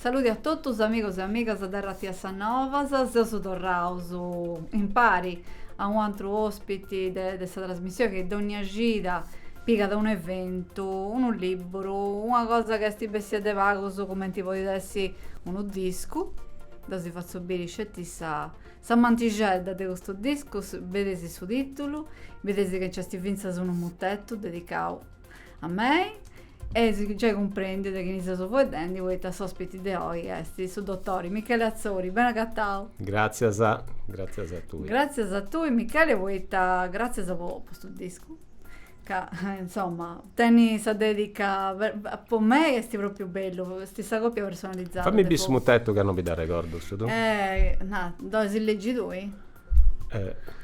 Saludi a totus amigos e amigas de Ratias Novas, seus torraus impari a u' antru ospiti de de sa trasmissioi chi dogna cida pigat unu eventu, unu liburu, una cosa ca esti bessia de pagus cumenti podit essi unu discu, deu si fatzu biri sceti sa sa mantixedda de custu discu, biri si su titulu, biri si ca nc'esti finzas unu mutetu dedicau A mei, eis giai cumprendiu de chini seus fueddendi poita s'ospiti de oi esti su dotori Michele Atzori. Beni agatau. Gratzias, gratzias a tui. Gratzias a tui Michele poita gratzias po custu discu ca insoma tenit sa dedica po mei esti propriu bellu, esti sa copia personalizada. Fami biri su mutetu ca no mi dd'arregordu su. Ddu as a ligi tui?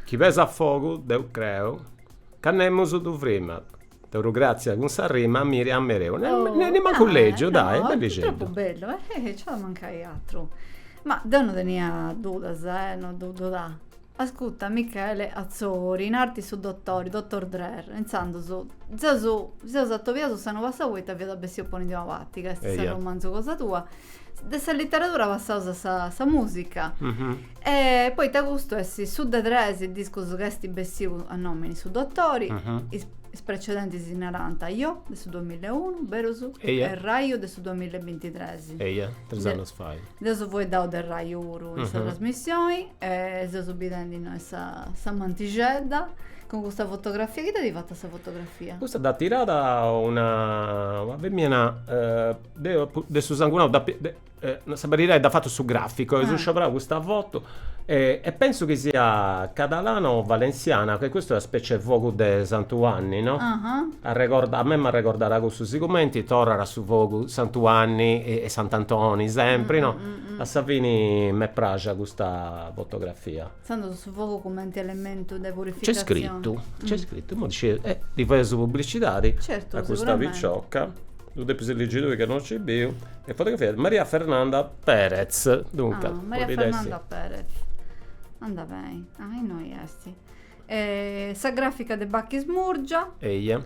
Chi pesat fogu deu creu. Ca nemus ddu frimat. Torru gratzias cun sa rima a Miriam Mereu. Nemmancu lègiu, dai, e bellixeddu. Tropu bellu, nci at a mancai atru. Ma deu no tenia dudas, no ddu dudà. Ascuta Michele Atzori, in arti su dotori, Doctor Drer, intzandus seus, seus atobiaus sa nova sa poita fiat a bessiu Ponendi a una parti custu romanzu cosa tua. de sa literadura passaus a sa, sa musica. Mhm. E poita custu est su de tres discus ca est bessiu a nomini Su Dotori, Mhm. is, is precedentis si narant Io de su duamilla e unu, berus? Eia. E Raju de su duamilla e bintitres. Eia, tres De- annus fai. dd'eus fueddau de Raju puru in sa Mhm. trasmissioni e seus bidendi innoi sa, sa mantixedda cun custa fotografia, chi dd'at fata sa fotografia? Custa dd'at tirada una, una femiana Deu de su sangunau sa beridadi dda fatu su graficu eus scioberau custa fotu e pensu chi sia catalana o valenziana ca custu est una specie de fogu de santu anni no arregordat a mei m'arregordat a cussu sicumenti torrat su fogu santu anni e sant'antoni sempri no a sa fini m'est praxia custa fotografia Intzandus su fogu cumenti elementu de purificatzioni. Nc'est scritu, nc'est scritu, immoi scì, eh, ddi faeus su publicidadi. Certu, siguramente. A custa piciocca, ddu depis ligi tui ca no nci biu, e fotografia Maria Fernanda Perez, duncas. Ah, Maria Fernanda Perez. Anda beni. Ah, innoi esti. Sa grafica de Bachis Murgia. Eia.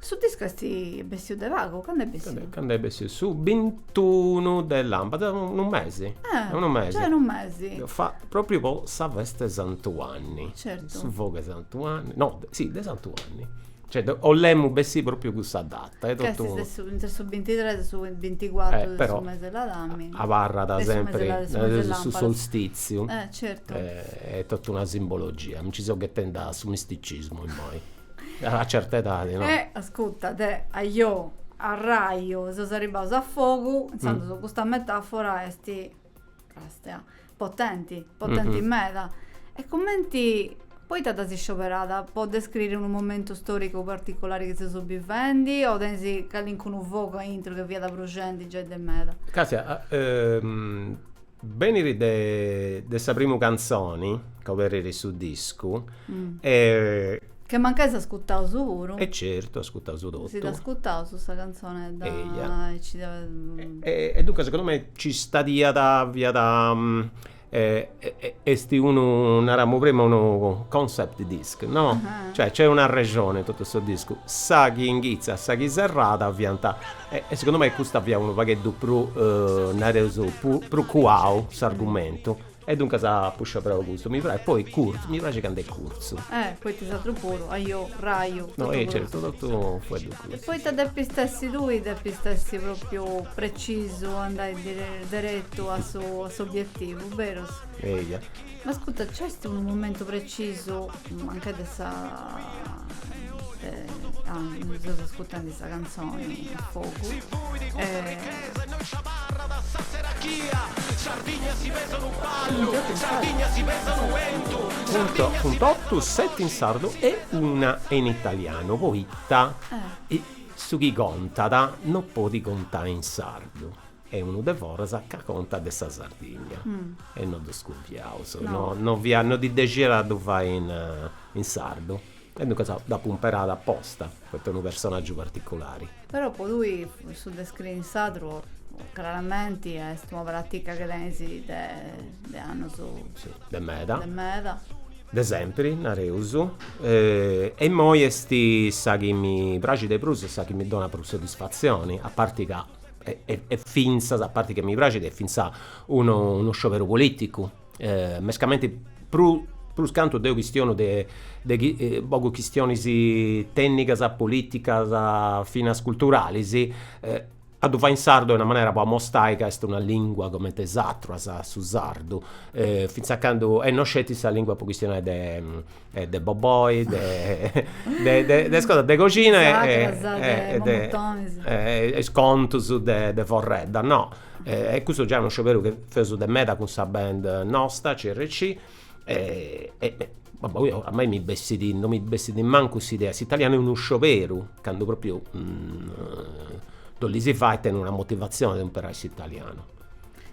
Su discu est bessiu de pagu, cand'est bessiu? Cand'est bessiu? Su bintunu de lampadas, de unu mesi. Eh, de unu mesi. Giai unu mesi. Fa, propriu po sa festa 'e santu'anni. Certu. Su fogu 'e santu'anni, no, si, de santu'anni. Cioè, de, 'ollemu bessì propriu cussa data, e totu. Ca est intre su bintitres e su binticuatru de su mesi 'e ladammi. Abarrat sempri. De su mesi 'e ladammi, de su mesi 'e lampadas. Su solstitziu. Eh, certu. Est totu una simbologia, mi nci seu ghetend'a su misticismu immoi. A certa edadi, no? E ascurta, de Ajò a raju seus arribbaus a fogu, intzandus custa metafora esti, castia, potenti, potenti meda. E cumenti, poita dd'asi scioberada? Po descriri unu momentu storicu particulari chi seus bivendi o tenisi calincunu fogu aintru chi fiat bruxendi giai de meda? Castia, Beniri de sa primu canzoni ca oberiri su discu e. Chi mancai si ascutaus puru. E certu ascutausu totu. Si dd'ascutausu sa canzonedda. E duncas segundu mei ci stadiada fiada esti unu naramu prima unu concept disc no. Cioè cc'è un'arrexoni in totu su discu. Sa chi inghitzat sa chi serrat fiant E segundu mei custa fiat unu pagheddu prus, nareus, prus cuau s'argumentu e duncas apu scioberau custu. Mi praxit poi curtzu, mi praxit candu est curtzu. Eh, poita is atrus puru, Ajò, raju, totu prus. No, certu, totu fueddus curtzus. E poita depist essi tui, depist essi propriu precisu, andai deretu a su, a s'obietivu, berus? Eia. Ma ascurta, nc'est unu momentu precisu, mancai de sa. Ah, immoi seus ascurtendi sa cantzoni a fogu. Funti, funt otu, seti in sardu e una in italianu, poita su chi contat no podit contai in sardu. Est unu de foras ca contat de sa Sardigna e no ddu scoviaus, no no fiat no ddi dexiat a ddu fai in in sardu e duncas dd'apu imperada aposta, poita unu personaggiu particulari. Però po tui su de scriri in sardu craramenti est una pratica chi tenis de de annus. Si, de meda. De meda. De sempri, nareus, e immoi est sa chi mi praxit de prus, sa chi mi donat prus soddisfatzioni, a parti ca e fintzas, a parti chi mi praxit, est fintzas unu scioberu politicu, mescamenti prus prus candu deu chistionu de, bogu chistionis tennigas, politigas, finas culturalis, a ddu fai in sardu est una manera po amostai ca est una lingua cumenti is atras, su sardu, fintzas a candu, e non sceti sa lingua po chistionai de de boboi de is cosas de coxina e de is contus de forredda no e custu giai unu scioberu chi feus de meda cun sa band nosta CRC e vabbò a mei mi bessit non mi bessit mancu s'idea s'italianu est unu scioberu candu propriu ddu olis fai tenit una motivazioni de imperai s'italianu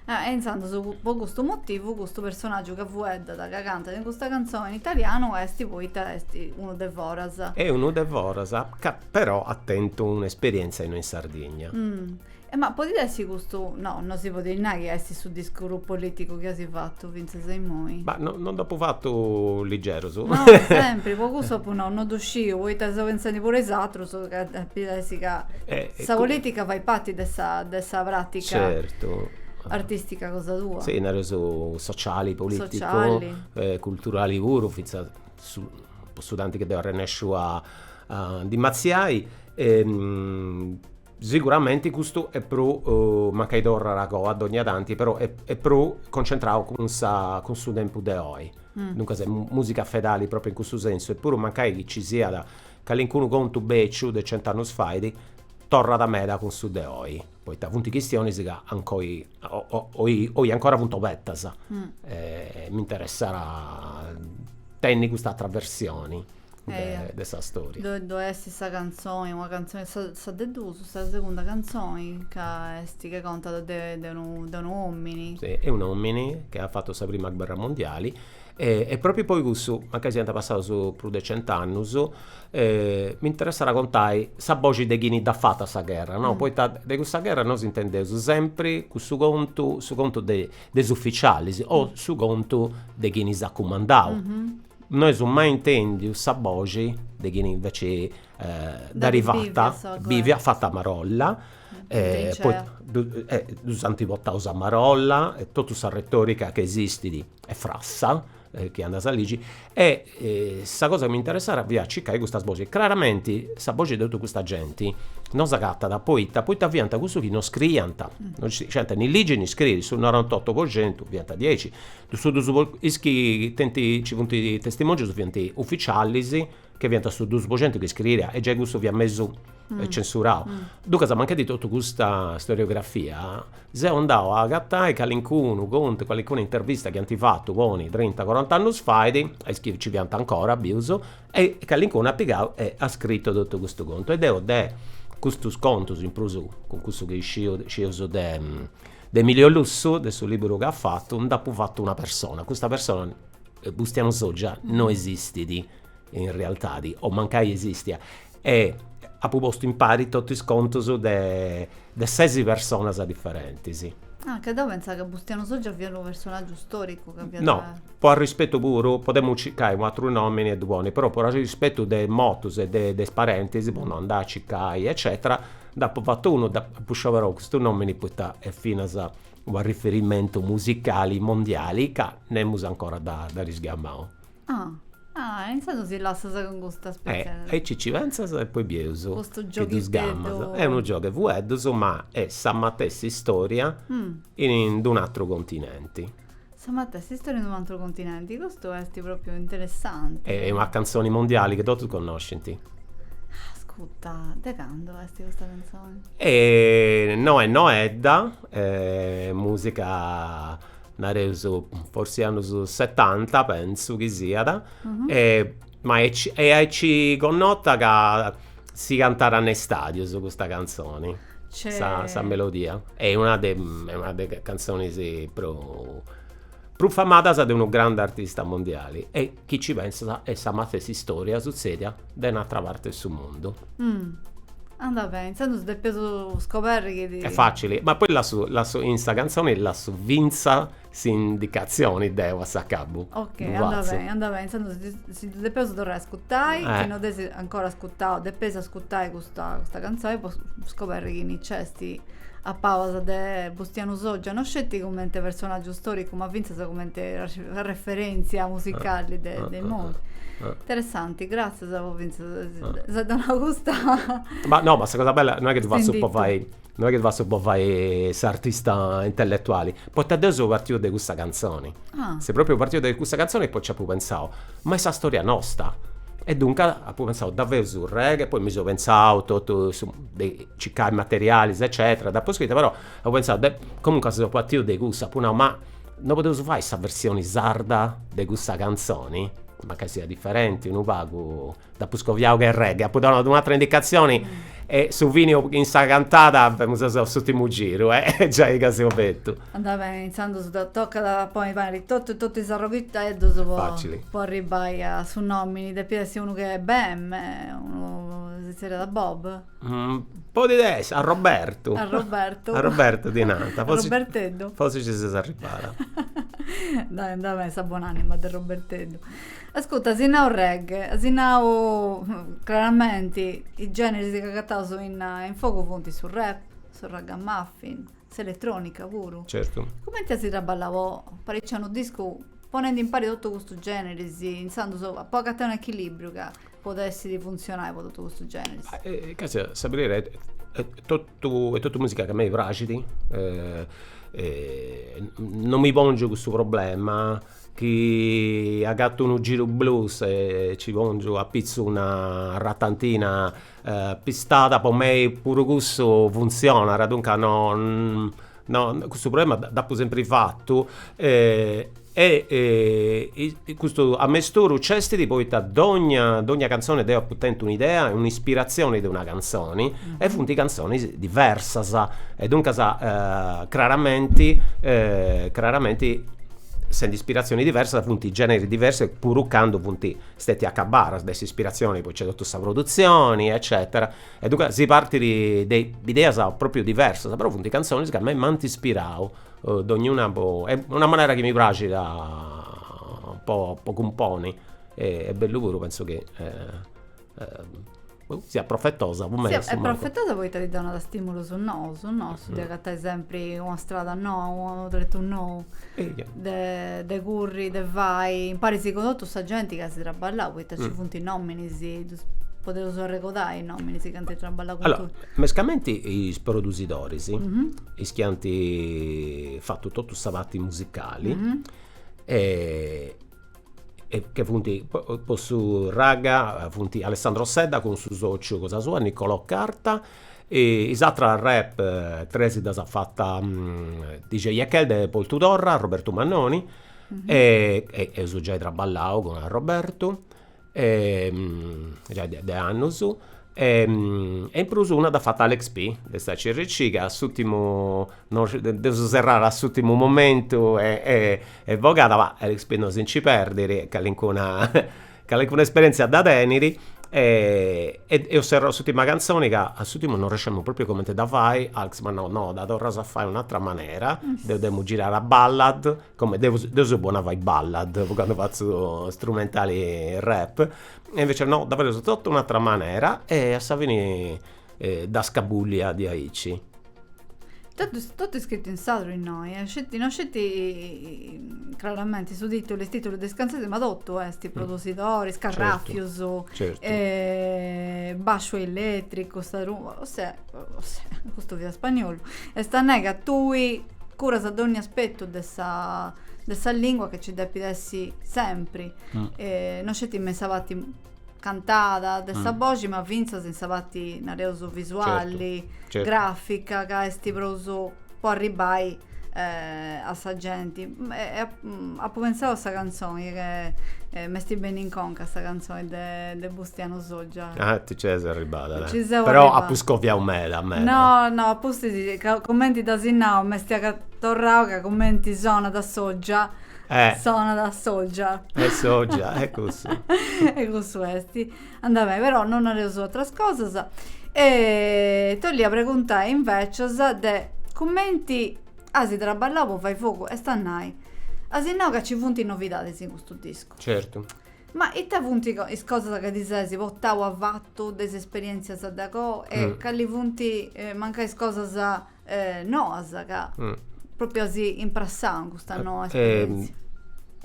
Ah, e intzandus po custu motivu custu personàgiu chi fueddat, chi cantat in custa cantzoni in italianu est poita est unu de foras. Est unu de foras, chi però at tentu un'esperièntzia innoi in Sardigna. Ma podit essi custu, no, no si podit nai chi est su discursu polìticu chi as fatu. fintzas a immoi. Bah, no, non dd'apu fattu ligeros. No, sempri, po cussu apu nau, non ddu sciu, poita seu pentzendi puru a is atrus, ca depit essi ca eh, sa eh, politica fait parti de sa, de sa pratica. Certu artistica cosa tua. Si, nareus sociali, politicu, sociali. Eh, culturali puru, fintzas po su tanti chi deu arrennesciu a, a ndi matziai. E, Siguramenti custu est prus, mancai torrat a coa dogna tanti, però est prus concentrau cun sa cun su tempus de oi. Duncas est musica fedali propriu in cussu sensu e puru mancai chi ci siat calincunu contu beciu de cent'annus fait torrat meda cun su de oi, poita funt chistionis ca ancoi oi oi ancora funt obertas e m'interessat tenni cust'atra versioni Eia. De sa storia. Ddo ddo est sa cantzoni, una cantzoni, sa sa de dus, sa segunda cantzoni ca est ca contat de de unu de un'omini. Si, 'e un'omini chi at fatu sa prima gherra mundiali e e propriu po cussu, mancai siant passaus prus de cent'annus, m'interessat a contai sa boxi de chini dd'at fata sa gherra, no, poita de cussa gherra nosu intendeus sempri cussu contu, su contu de de is uficialis o su contu de chini at cumandau. No eus mai intendiu sa boxi de chini inveci dd'at bìvia, fata a marolla, poita ddus ant portaus a marolla, totu sa retorica chi esistit est frassa, chi andas a ligi, e sa cosa chi m'interessat fiat circai custas boxis, craramenti sa boxi de totu custa genti non s'agatat poita, poita fiant cussus chi non scriiant, non scidiant ni ligi ni scriri, su norantotu po centu fiant diaici Su dus po centu, is chi tenint, nci funt testimòngius fiant uficialis chi fiant su dus po centu chi scriiant e giai cussu fiat mesu censurau. Duncas a mancai de totu custa storiografia seu andau a agatai calincunu contu, calincuna intervista chi ant fatu, poni, trinta corant'annus fait a is chi nci fiant ancora bius e calincunu at pigau e at scritu totu custu contu e deu de custus contus in prus cun cussu chi scieus de De Emilio Lussu, de su liburu chi at fatu, nd'apu fatu una persona, custa persona Bustianu Soggia no esistit in realtadi o mancai esistia e apu postu impari totu is contus de de ses personas diferentis. Ah, ca deu pentzà ca Bustianu Soggia fiat unu personaggiu storicu ca fiat. No, po arrispetu puru podemus circai u' atru nomini e ddu ponni, però po arrispetu de is mortus e de is parentis po no andai a circai eccetera Nd'apo fatu unu, apu scioberau custu nomini poita est finas un'arriferimentu musicali mondiali ca nemus ancora dd'at isgamau. Ah ah e insaras si lassas cun custa spezia. Eh aici ci pentzas e poi bieus chi ddu sgamas. Est unu giogu de fueddus ma est sa matessi storia in d'un'aturu continenti. Sa matessi istória in un'atru continenti, custu est própiu interessanti. Est una cantzoni mondiali chi totus connoscint. Ascuta, de candu est custa cantzoni? E no est noedda, est música, nareus, fortzis annus setanta pentzu chi siat e Ma est aici connota ca si cantat in is istàdius custa cantzoni, sa melodia? Est una de is cantzonis prus famadas de unu grandu artista mundiali e chi nci pensas est sa matessi istoria sutzèdia de una atra parti de su mundu. Andat beni, intzandus ddu depeus scoberri chi. Est facili, ma poi lassu, in sa cantzoni lassu fintzas S'indicatzioni deu a s'acabu dda fatzu. Ok, andat beni, intzandus si ddu depeus torrai a ascutai, chi no dd'eis ancora ascutau, depeis ascutai custa cantzoni po scoberri chini nc'esti a palas de Bustianu Soggia, no sceti cumenti personaggiu storicu ma fintzas cumenti referentzia musicali de imoi. Interessanti, gratzias po si nd'ai donau custa. Ma no, ma sa cosa bella no est chi ddu fatzu po fai No est chi fatzu po fai s'artista intelletuali, poita deu seu partiu de cussa cantzoni. Seu propriu partiu de cussa cantzoni e poi nci apu pentzau, ma est sa storia nosta. E duncas apu pentzau, dda feus reggae, poi mi seu pentzendi totu su de circai materialis eccetera, dd'apu scrita, però apu pentzau, deu comunque seu partiu de cussa, apu nau, ma no podeus fai sa versioni sarda de cussa cantzoni? Mancai siat diferenti unu pagu Dd'apu scoviau ca est reggae, apu donau un'atera indicatzioni e su finiu in sa cantada femus a s'urtimu giru e giai ca seus innoi. Andat beni, intzandus tocat a ponni pari totu totu is arroghiteddus po po arribbai a su nomini, depiat essi unu chi boh, unu si zerriat Bob? Podit essi, a Robertu. A Robertu. A Robertu ddi nant. A Roberteddu. Forzis ci ses arribbada. Dai andat beni sa buon'anima de Roberteddu Ascuta, as nau reggae, as nau craramenti is generis chi agataus in fogu funt su rap, su ragamuffin, s'elettronica puru. Certu. Cumenti as traballau po apariciai unu discu ponendi impari totu custus generis, intzandus po agatai unu echilibriu ca podessidi funtzionai po totu custus generis? Ca sia, sa beridadi est totu est totu musica ca mi praxidi, non mi pongiu cussu problema chi agattu unu giru blues e ci pongiu apitzu una ratantina pistada po mei puru cussu funzionat duncas no no cussu problema dd'apu sempri fatu e custu amesturu c'estit poita dogna dogna canzoni deu apu tentu un'idea e un'ispiratzioni de una canzoni e funt canzonis diversas e duncas craramenti craramenti Sendi ispiratzionis diversas, funt gèneris diversus e puru candu funt stèti acabadas de s'ispiratzioni poi nc'est totu sa produtzioni eccetera e duncas si partit de ideas pròpriu diversas però funt cantzonis chi a mei m'ant ispirau dognuna po e una manera chi mi praxit po po cumponi est bellu puru pentzu chi Uh, siat profetosa po mei. Sì, est profetosa poita ti donat stimulus nous, no? Su de agatai sempri una strada noa, unu tretu nou de, de curri, de fai. Imparis cun totu sa genti chi as traballau, poita nci funt nominis, ddus podeus arregodai is nominis chi ant traballau cun allora, Mescamenti is produsidoris, mm -hmm. is chi ant fatu totu sa parti musicali, mm -hmm. e chi funt po su ragga funt Alessandro Sedda cun su sociu cosa sua Nicolò Carta e is atras rap tres ddas at fatas DJ Yeckel de Portu Torra Robertu Mannoni e eus giai traballau cun Robertu giai de annus e in prus una dd'at fata Alex P de sa CRC ca s'urtimu no dd'eus serrada a s'ùrtimu momentu e bogada, ma Alex P non si nci perdit, calincuna calincuna esperièntzia at de teniri e eus serrau s'ùrtima cantzoni ca a s'ùrtimu no isciemus pròpriu cumenti dda fai, Alex m'at nau, no dda torraus a fai in un'atra manera, deu dd'emu girada a ballad, come deu seu bonu a fai ballad po candu fatzu strumentali rap e invecias no dda fadeus totu in un'atra manera e a sa fini dd'at scabullia diaici. Totu iscritu in sardu innoi, sceti no sceti craramenti su titulu, is titulus de is cantzonis ma totu est, produsidoris, scarrafius, basciu eletricu, sa trumba, o sea o sea custu fiat spagnolu, est a nai ca tui curas dogni aspetu de sa de sa lingua ca nci depit essi sempri, no sceti me sa parti cantada de sa boxi ma finzas in sa parti nareus visuali grafica ca esti prus po arribai a sa genti apu pentzau a sa canzoni m'esti bennia in conca sa canzoni de Bustianu Soggia ah ti ci ses arribada però apu scoviau meda meda no no a pustis commenti dd'asi nau m'esti torrau ca commenti sonat Soggia Eh. Sonat s'òrgia. E s'òrgia, e cussu. e cussu est. Anda bene, però non nareus otras cosas. E t'ollia preguntai invecias de cumenti asi traballau po fai fogu, est a nai, asi nau ca ci funt is novidadis in custu discu. Certu. Ma ita funt is cosas ca ti ses portau avatu de is esperientzias de agoa e cali funt mancai is cosas Eh, noas, ca mm. proprio asi imprassau in custa eh, noa esperienza.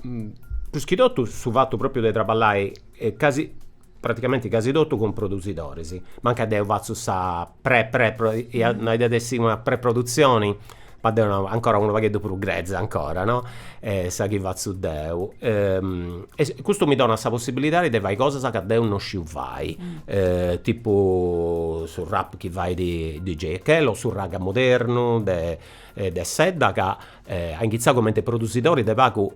Eh, mm, prus chi totu su fatu proprio de traballai eh, casi praticamente casi totu cun produsidoris. Mancai deu fatzu sa pre pre, pro, ia, mm. iat a essi una preproduzioni ma deu no, ancora unu pagheddu prus grezza ancora, no? Eh, sa chi fatzu deu. Ehm, e custu mi donat sa possibilidadi de fai cosas ca deu no sciu fai, mm. eh, tipu su rap chi fait dj Chelo su ragga modernu de de Sedda ca at inghitzau comente produsidori de pagu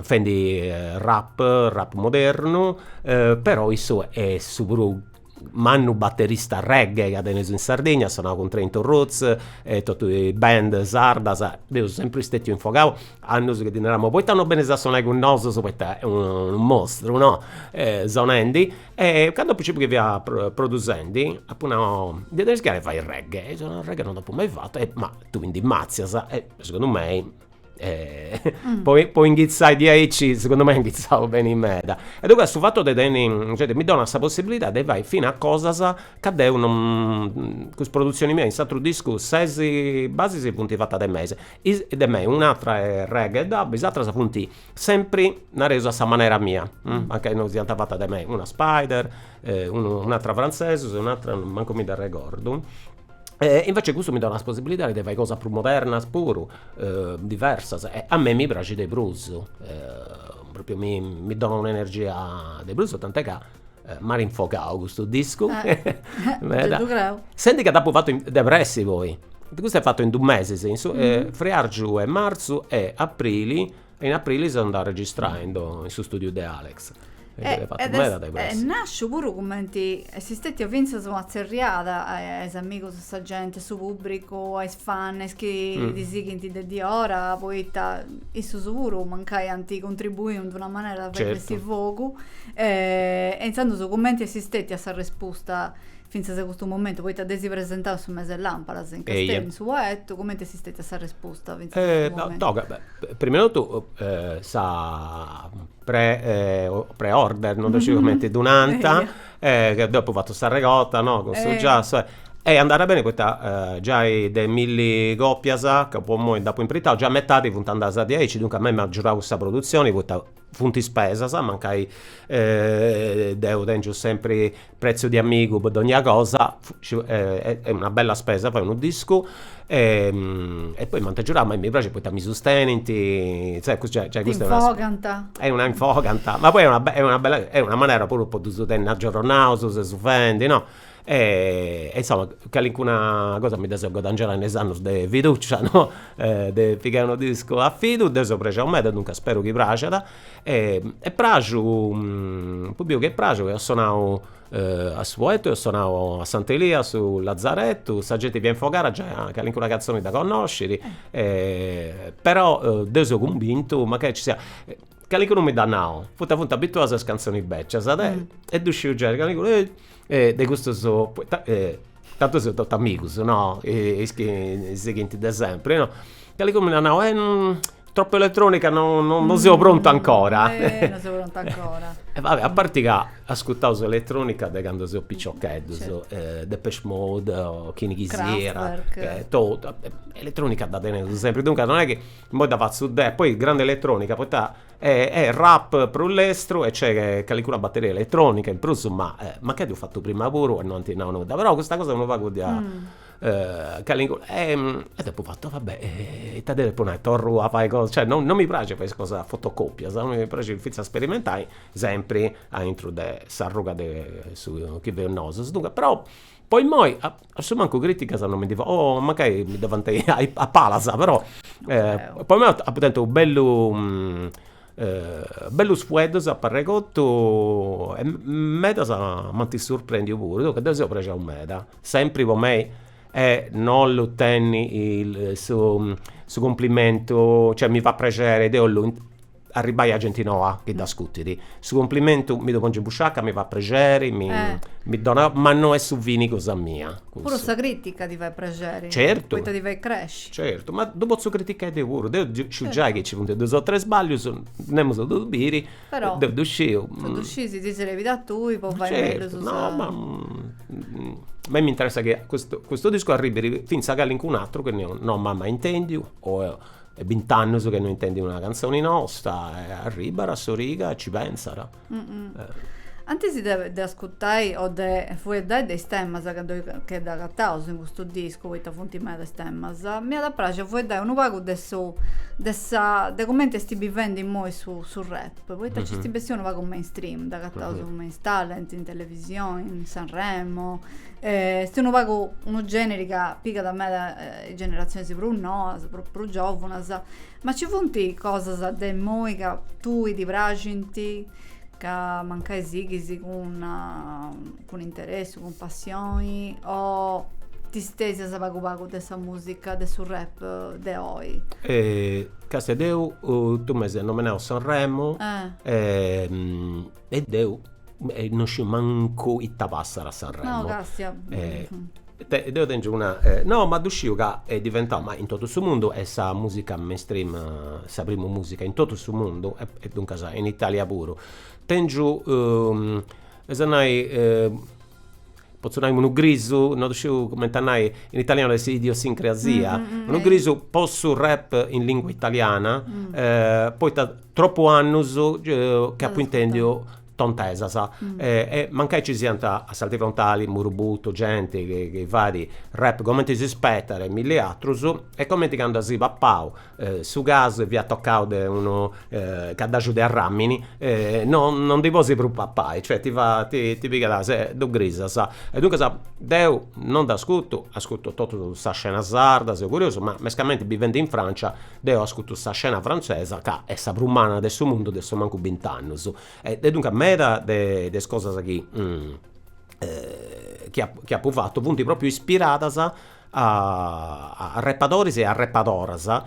fendi rap rap modernu però issu est su prus mannu batterista reggae chi teneus in Sardigna at sonau cun Train to Roots e totu is band sardas deu seu sempri stetiu infogau annus chi ddi naramo poita no benis a sonai cun nosu poita est unu mostru no sonendi E candu apu scipiu chi fiat produsendi apu nau, ndi tenis cheri a fai reggae, e ita, reggae non dd'apu mai fatu, ma tui ndi matzias, e segundu mei po po inghitzai diaici segundu mei at inghitzau beni meda. E duncas su fatu de tenni, gei, mi donat sa possibilidadi de fai finzas cosas ca deu non, cun sa produzioni mia in s'aturu discu ses basis funt fatas de mei, is de mei, un'atera 'e reggae e dub, is ateras funt Sempri nareus a sa manera mia, mancai non siant fatas de mei, una Spider, unu un'atera frantzesus e un'atera mancu mi dd'arregordu. E invecias custu mi donat sa possibilidadi de fai cosas prus modernas puru, diversas e a mei mi praxit de prus, propriu mi mi donat un'energia de prus, tant'est ca M'at infogau custu discu, meda. Sendi ca dd'apu fatu de pressa poi. Custu est fatu in dus mesis, in su, friargiu e marzu e aprili, in aprili seu andau a registrai deu in su studiu de Alex. Est fatu meda de pressa. Est nasciu puru cumenti, est stetiu finzas una tzerriada a is amigus sa gente, a su pubbricu, a is fanes chi mm. ti sighint de diora, poita issus puru mancai ant contribuiu in d'una manera a fai certo. fogu e, e intzandus cumenti est stètia sa respusta fintzas a custu momentu, poita dd'eis presentau su mese 'e lampadas in Casteddu, in su Poettu, cumenti est stètia sa respusta fintzas a eh, custu momentu? Toga, beh, prima de totu eh, sa pre, eh, pre-order, non ddu sciu cumenti ddu nant, E deu apu fatu s'arregota no cun su giassu e andat beni poita giai de milli copias ca po imoi nd'apu imprintau giai metadi funt andadas a diaici duncas a mei m'at agiudau cun sa produtzioni poita funt ispesas mancai deu tengiu sempri prètziu de amigu po dogna cosa est una bella spesa fai unu discu e poi m'ant agiudau, ma a mei mi praxit poita mi sustenint, ses custu giai giai custu est una. T'infogant. E non infogant, ma poi est una bella est una bella est una manera puru po ddus tenni agiornaus, su chi seu fendi no, e insoma calincuna cosa mi dda seu guadangiada in is annus de fiducia no, de pigai unu discu a fidu, deu seu prexau meda, duncas speru chi praxia, e praxu, apu biu chi est pràxiu e at sonau A su Poetu eus sonau a Sant'Elia su Lazaretu, sa genti fiat infogada giai a calincuna cantzoni dda connoscit però deu seu cumbintu mancai ci siat calincunu mi dd'at nau poita funt abituaus a is cantzoni becias e ddu sciu giai calincunu e de custus poita tanti seus totus amigus no is chi sighint de sempri no calincunu mi nd'at nau Tropu elettronica no no seu prontu ancora. Eh no seu prontu ancora. E va bè, a parti ca ascurtaus elettronica de candu seus piciocheddus, Depeche Mode o chini chi siat. Kraftwerk. Totu, elettronica dda teneus sempri, duncas non est chi immoi dda fatzu deu, poi grande elettronica poita est rap prus lestru e nc'est calincuna bateria elettronica in prus ma mancai dd'apu fatu prima puru e no ant nau nudda, però custa cosa unu pagu dda Calincunu, e deu apu fatu, va bè, ita ddi depu nai, torru a fai cosa, cioè non mi praxit a fai is cosas fotocopias, a mei mi praxit finzas a sperimentai sempri aintru de s'arruga de su chi feus nosus. Duncas, però po imoi a su mancu critigas non mi ndi faint, mancai mi dda faint a palas, però po imoi apu tentu u' bellu Bellus fueddus apu arregotu e medas m'ant surprendiu puru, duncas deu seu prexau meda, sempri po mei e no ollu tenni su cumplimentu, cioè mi fait prexeri deu ollu arribbai a genti noa chi dd'ascurtit, su cumplimentu mi ddu pongiu in busciaca, mi fait prexeri, mi donat, ma no est su fini cosa mia Puru sa crìtica ti fait prexeri. Certu. Poita ti fait cresci. Certu, ma ddu potzu criticai deu puru, deu sciu giai chi nci funt dus o tres sbàllius, nemus ddus bit, deu ddu sciu. Però, ddu scii, si ddi serbit a tui po fai mellus sa. No, ma a mei m'interessat chi custu custu discu arribbit fintzas a calincunu ateru chi no no m'at mai intendiu o est bint'annus chi no intendit una cantzoni nosta e arribbat a s'origa e nci pentzat Antis de ascurtai o de fueddai de is temas ca ddoi agataus in custu discu, poita funt medas temas, m'iat a praxi fueddai unu pagu de su de sa de cumenti est bivendi immoi su su rap, poita nc'est bessiu unu pagu mainstream, dd'agataus in is talent, in televisioni, in sanremo, est unu pagu unu generi ca pigat meda is generazionis prus noas, prus giòvunas Ma nci funt cosas de immoi ca tui ti praxint, ca mancai sighis cun cun interessu, cun passioni o ti stesias pagu pagu de sa musica de su rap de oi? Castia deu, tu m'as nomenau Sanremo E deu non sciu mancu ita passat a Sanremo. No castia, deu tengiu una, no ma ddu sciu ca est diventau, ma in totu su mundu, est sa musica main stream, sa primu musica in totu su mundu e duncas in Italia puru. Tengiu, eus a nai potzu nai unu grisu, no ddu sciu cumenti a nai, in italianu est idiosincrasia, unu grisu po su rap in lingua italiana poita tropu annus chi apu intendiu tontesas e mancai ci siant Assalti Frontali Murubutu, genti chi fait rap cumenti si spetat e milli atrus e cumenti candu asi papau su casu chi fiat tocau de unu caddaxu de arramini e non non ndi podis prus papai, cioè ti fa ti ti pigat ddu grisas e duncas deu non dd'ascutu, ascutu totu sa scena sarda, seu curiosu, ma mescamente bivendi in Francia deu ascutu sa scena francesa ca est sa prus manna de su mundu de assumancu bint'annus e e duncas meda de de is cosas chi chi apu chi apu fatu funt propriu ispiradas a arrepadoris e arrepadoras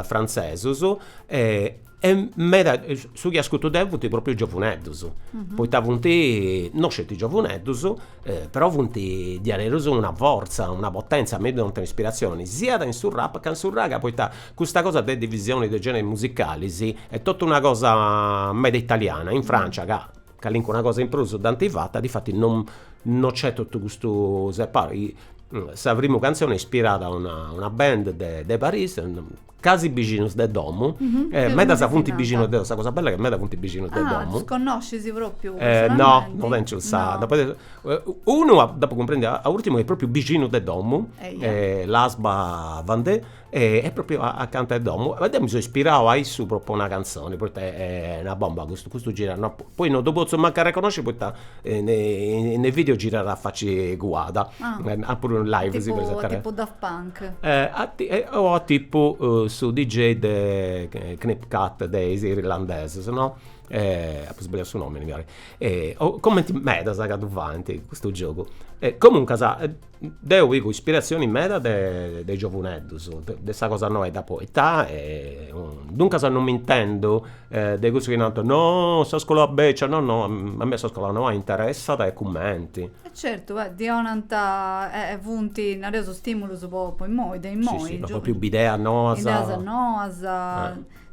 frantzesus e e meda su chi ascurtu deu funt propriu giovuneddus, poita funt, non sceti giovuneddus, però funt diaderus una fortza, una potenza, a mei mi donant ispiratzioni, siat in su rap ca in su ragga poita custa cosa de divisioni de generi musicalis est totu una cosa meda italiana, in Francia ca Calincuna cosa in prus dd'ant fata, difatis no no nc'est totu custu separu. Sa primu cantzioni est ispirada a una a una band de de Paris, casi bixinus de domu, medas funt bixinus de domu, sa cosa bella est chi medas funt bixinus de domu. Ah, ddus connoscis propriu personalmenti? No, no tengiu sa, no podit, unu dd'apu cumprendida a urtimu chi est propriu bixinu de domu, l'asba Vandé, e propriu acanta 'e domu e deu mi seu ispirau a issu po una canzoni poita est una bomba custu, custu girat, poi non ddu potzu mancu connosci poita in is videos girat a faci cuada, at puru is live si presentadas. Tipu tipu Daft Punk. o tipu su dj de Kneecap de is irlandesus no, apu sbagliau su nomini mi pari, comenti medas candu faint custu giogu, comuncas Deu pigu ispiratzioni meda de de is giovuneddus, de sa cosa noa chi ddoi at poita e duncas non mi intendu de cussus chi nant no sa scola beccia, no no, a mei sa scola noa interessat e cumenti. E certu, ddi 'onant, funt, nareus, stimulus po po imoi, de imoi. Sì, sì, po ai bideas noas. Ideas noas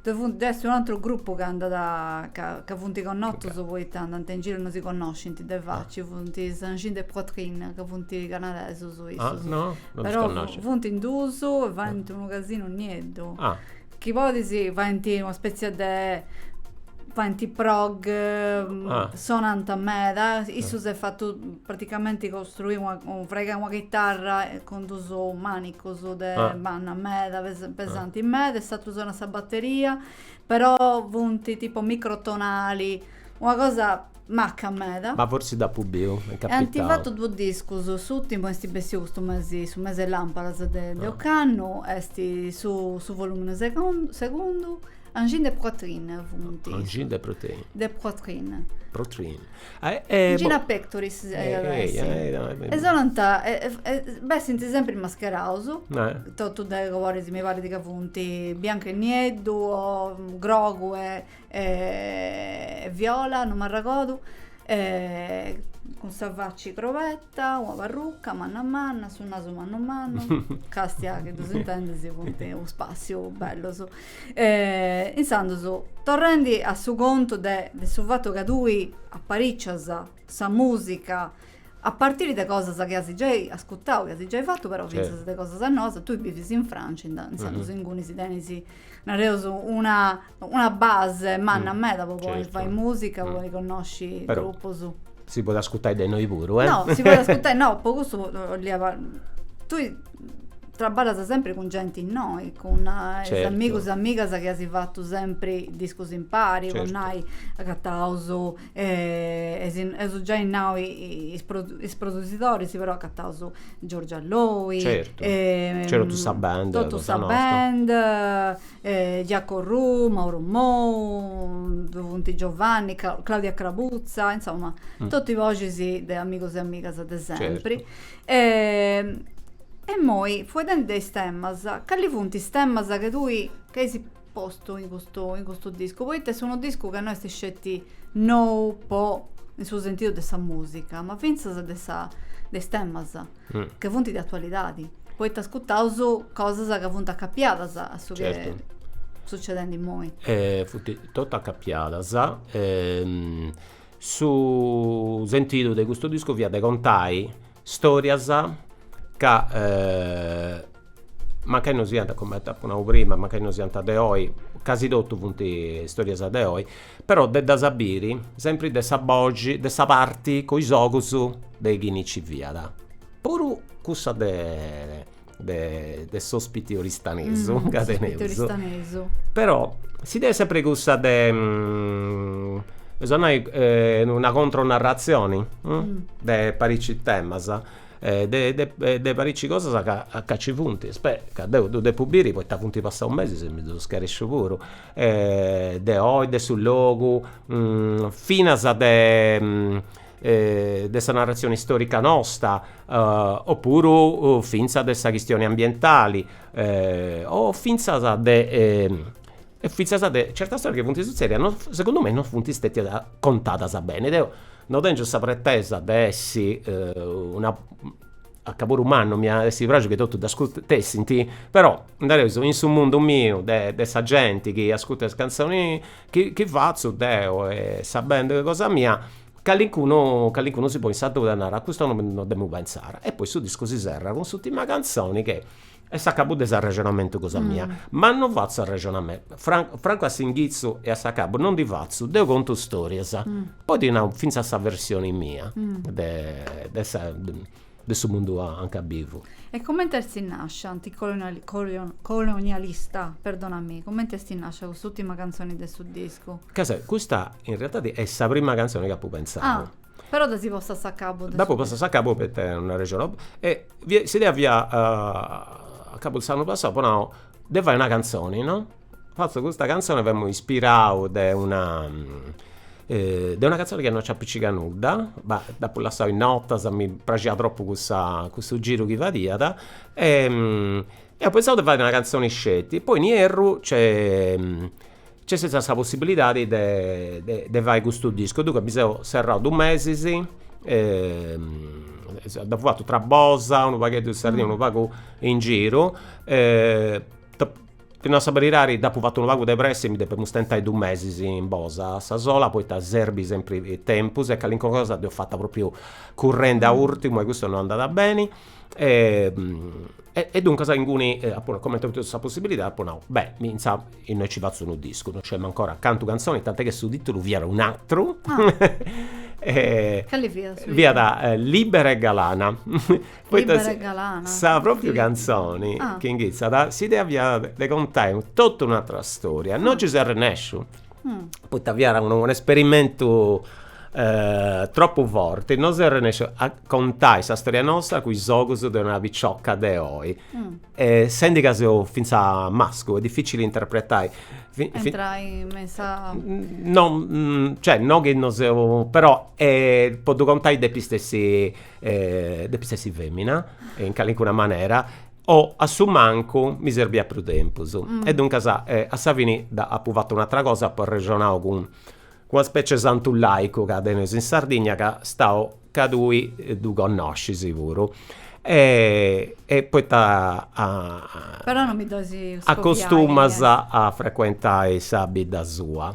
Ddoe est un'atru grupu ca andat, ca ca funt connotus poita andant in giru e non si connoscint de faci, funt is Angine de Poitrine, ca funt canadesus issus. Ah, no? Non ddus connoscia. Però funt in dus e faint unu casinu nieddu. Ah. Chi podis, faint una spètzia de, faint prog, sonant meda, issu s'est fatu praticamenti costrui una fregai una chitarra cun dus manicus de ah. manna meda pesanti ah. meda e s'atru sonat sa batteria però funt tipo microtonali una cosa maca meda ma forsi d'apu biu e ant fatu duus discus s'ultimu est bessiu custu mesi su mesi 'e lampadas de, de ah. ocannu est su, su volumene secondu, segundu Angine de Poitrine funt Angine de Proteine de Poitrine Protrine Gina Pectoris e sonant e bessint sempri mascheraus, totus de coloris mi parit ca funt biancu e nieddu o grogu e viola, non m'arregodu, cun sa faci crobetta, una parruca manna manna, su nasu mannu mannu, castia chi ddus intendis funt u' spassiu bellus Intzandus, torrendi a su contu de de su fatu ca tui aparicias sa musica a partiri de cosas chi as giai ascutau, chi as giai fatu, però finzas de cosas noas, tui bivis in Francia, intzandus ingunis tenis, nareus, una una base manna meda po podi fai musica, po podi connosci grupus. Si podit ascutai de innoi puru, eh. No, si podit ascutai, no, po custu 'ollia, tui traballas sempri cun genti innoi, cun is certu. amigus e amigas chi as fatu sempri discus impari, po nai, agataus eus giai nau is is produsidoris, però agataus Giorgia Loi, certu, nc'est totu sa band, totu sa band, Yacu Ru, Mauro Mou, ddoi funt Giovanni, Claudia Crabuzza, insoma, totu is boxis de amigus e amigas de sempri, E immoi, fueddendi de is temas, cali funt is temas chi tui dd'eis postu in custu in custu discu? Poita est unu discu chi no est sceti nou po in su sentidu de sa musica, ma fintzas de sa de is temas chi funt de atualidadi, poita ascutaus cosas chi funt acapiadas a su chi est sucedendi immoi. Funt totu acapiadas Su sentidu de custu discu fiat de contai storias ca mancai no siant cumenti apu nau prima, mancai no siant de oi, casi totu funt storias de oi, però de ddas biri sempri de sa boxi, de sa parti cun is ogus de chini nci fiat. Puru cussa de de de s'ospiti oristanesu ca teneus però s'idea est sempri cussa de eus a nai una contro narratzioni de paricis temas e de de paricis cosas ca ca ci funt e ca deu ddu depu biri poita funt passaus mesis e mi ddu seu scaresciu puru e de oi de su logu finas de de sa narratzioni istorica nosta oppuru finzas de sa chistioni ambientali o finzas de e finzas de ciertas cosas chi funti suzzedias segundu mei non funti stetias contadas beni. Deu non tengiu sa pretesa de essi una a ca puru mannu m'iat essi praxiu chi totus dd'ascurtessint però, nareus, in su mundu miu de sa genti chi ascurtat is cantzoni Chi fatzu deu e sa band cosa mia, calincunu calincunu si ponit sa duda e narat custa non dd'emu pentzada e poi su discu si serrat cun s'urtima cantzoni chi est s'acabu de s'arrexonamentu cosa mia. Ma non fatzu arrexonamentu, francu a s'inghitzu e a s'acabu non ndi fatzu, deu contu storias, poi ti nau fintzas sa versioni mia de sa De su mundu anca bivu. E comente est nascia Anticolonialista, perdonami, comente est nascia cuss'ultima cantzoni de su discu? Ca custa in realtadi est sa prima cantzoni chi apu pentzau. Ah, però dd'as posta a s'acabu de su discu. Dd'apu posta a s'acabu poita est un'arrexonu, e s'idea fiat a acabu de s'annu passau, apu nau de fai una cantzoni, no Fatzu custa canzone femu ispirau de una de una canzone chi no nci apiciga nudda, ma dd'apu lassau in notas, mi praxiat tropu cussa cussu giru chi fadiat e e apu pensau de fai una canzoni sceti, poi in ierru nc'est nc'est stetia sa possibilidadi de de de fai custu discu, duncas mi seu serrau dus mesis e dd'apu fatu tra Bosa, unu pagheddu in Sardigna, unu pagu in giru e Ti nau sa beridadi, dd'apu fatu unu pagu de pressi e mi depemu stentai dus mesis in bosa sa sola poita serbit sempri tempus e calincuna cosa dd'eus fata propriu currendi a urtimu e cussa no andat beni e duncas inguni apu cumenti apu tentu sa possibilidadi apu nau, beh, mi insaras innoi nci fatzu unu discu, no scemu ancora cantu cantzoni tant'e che su titulu fiat un'atru e fiat Libera e galana Poita sa propriu cantzoni chi inghitzat s'idea fiat de contai totu un'atra storia, no ci seu arrennesciu, poita fiat unu esperimentu tropu forti, no seu arrennesciu a contai sa storia nostra cun is ogus de una picioca de oi, essendi ca seu finzas mascu est dificili interpretai, entrai me in sa, no cioè no chi no seu però po ddu contai depis essi depis essi femina in calincuna manera o a su mancu mi serbiat prus tempus e duncas a sa fini apu fatu un'atera cosa apu arrexonau cun una specie 'e santu laicu ca teneus in Sardigna ca stau ca tui ddu connoscis puru e poita acostumas a frecuentai sa bidda sua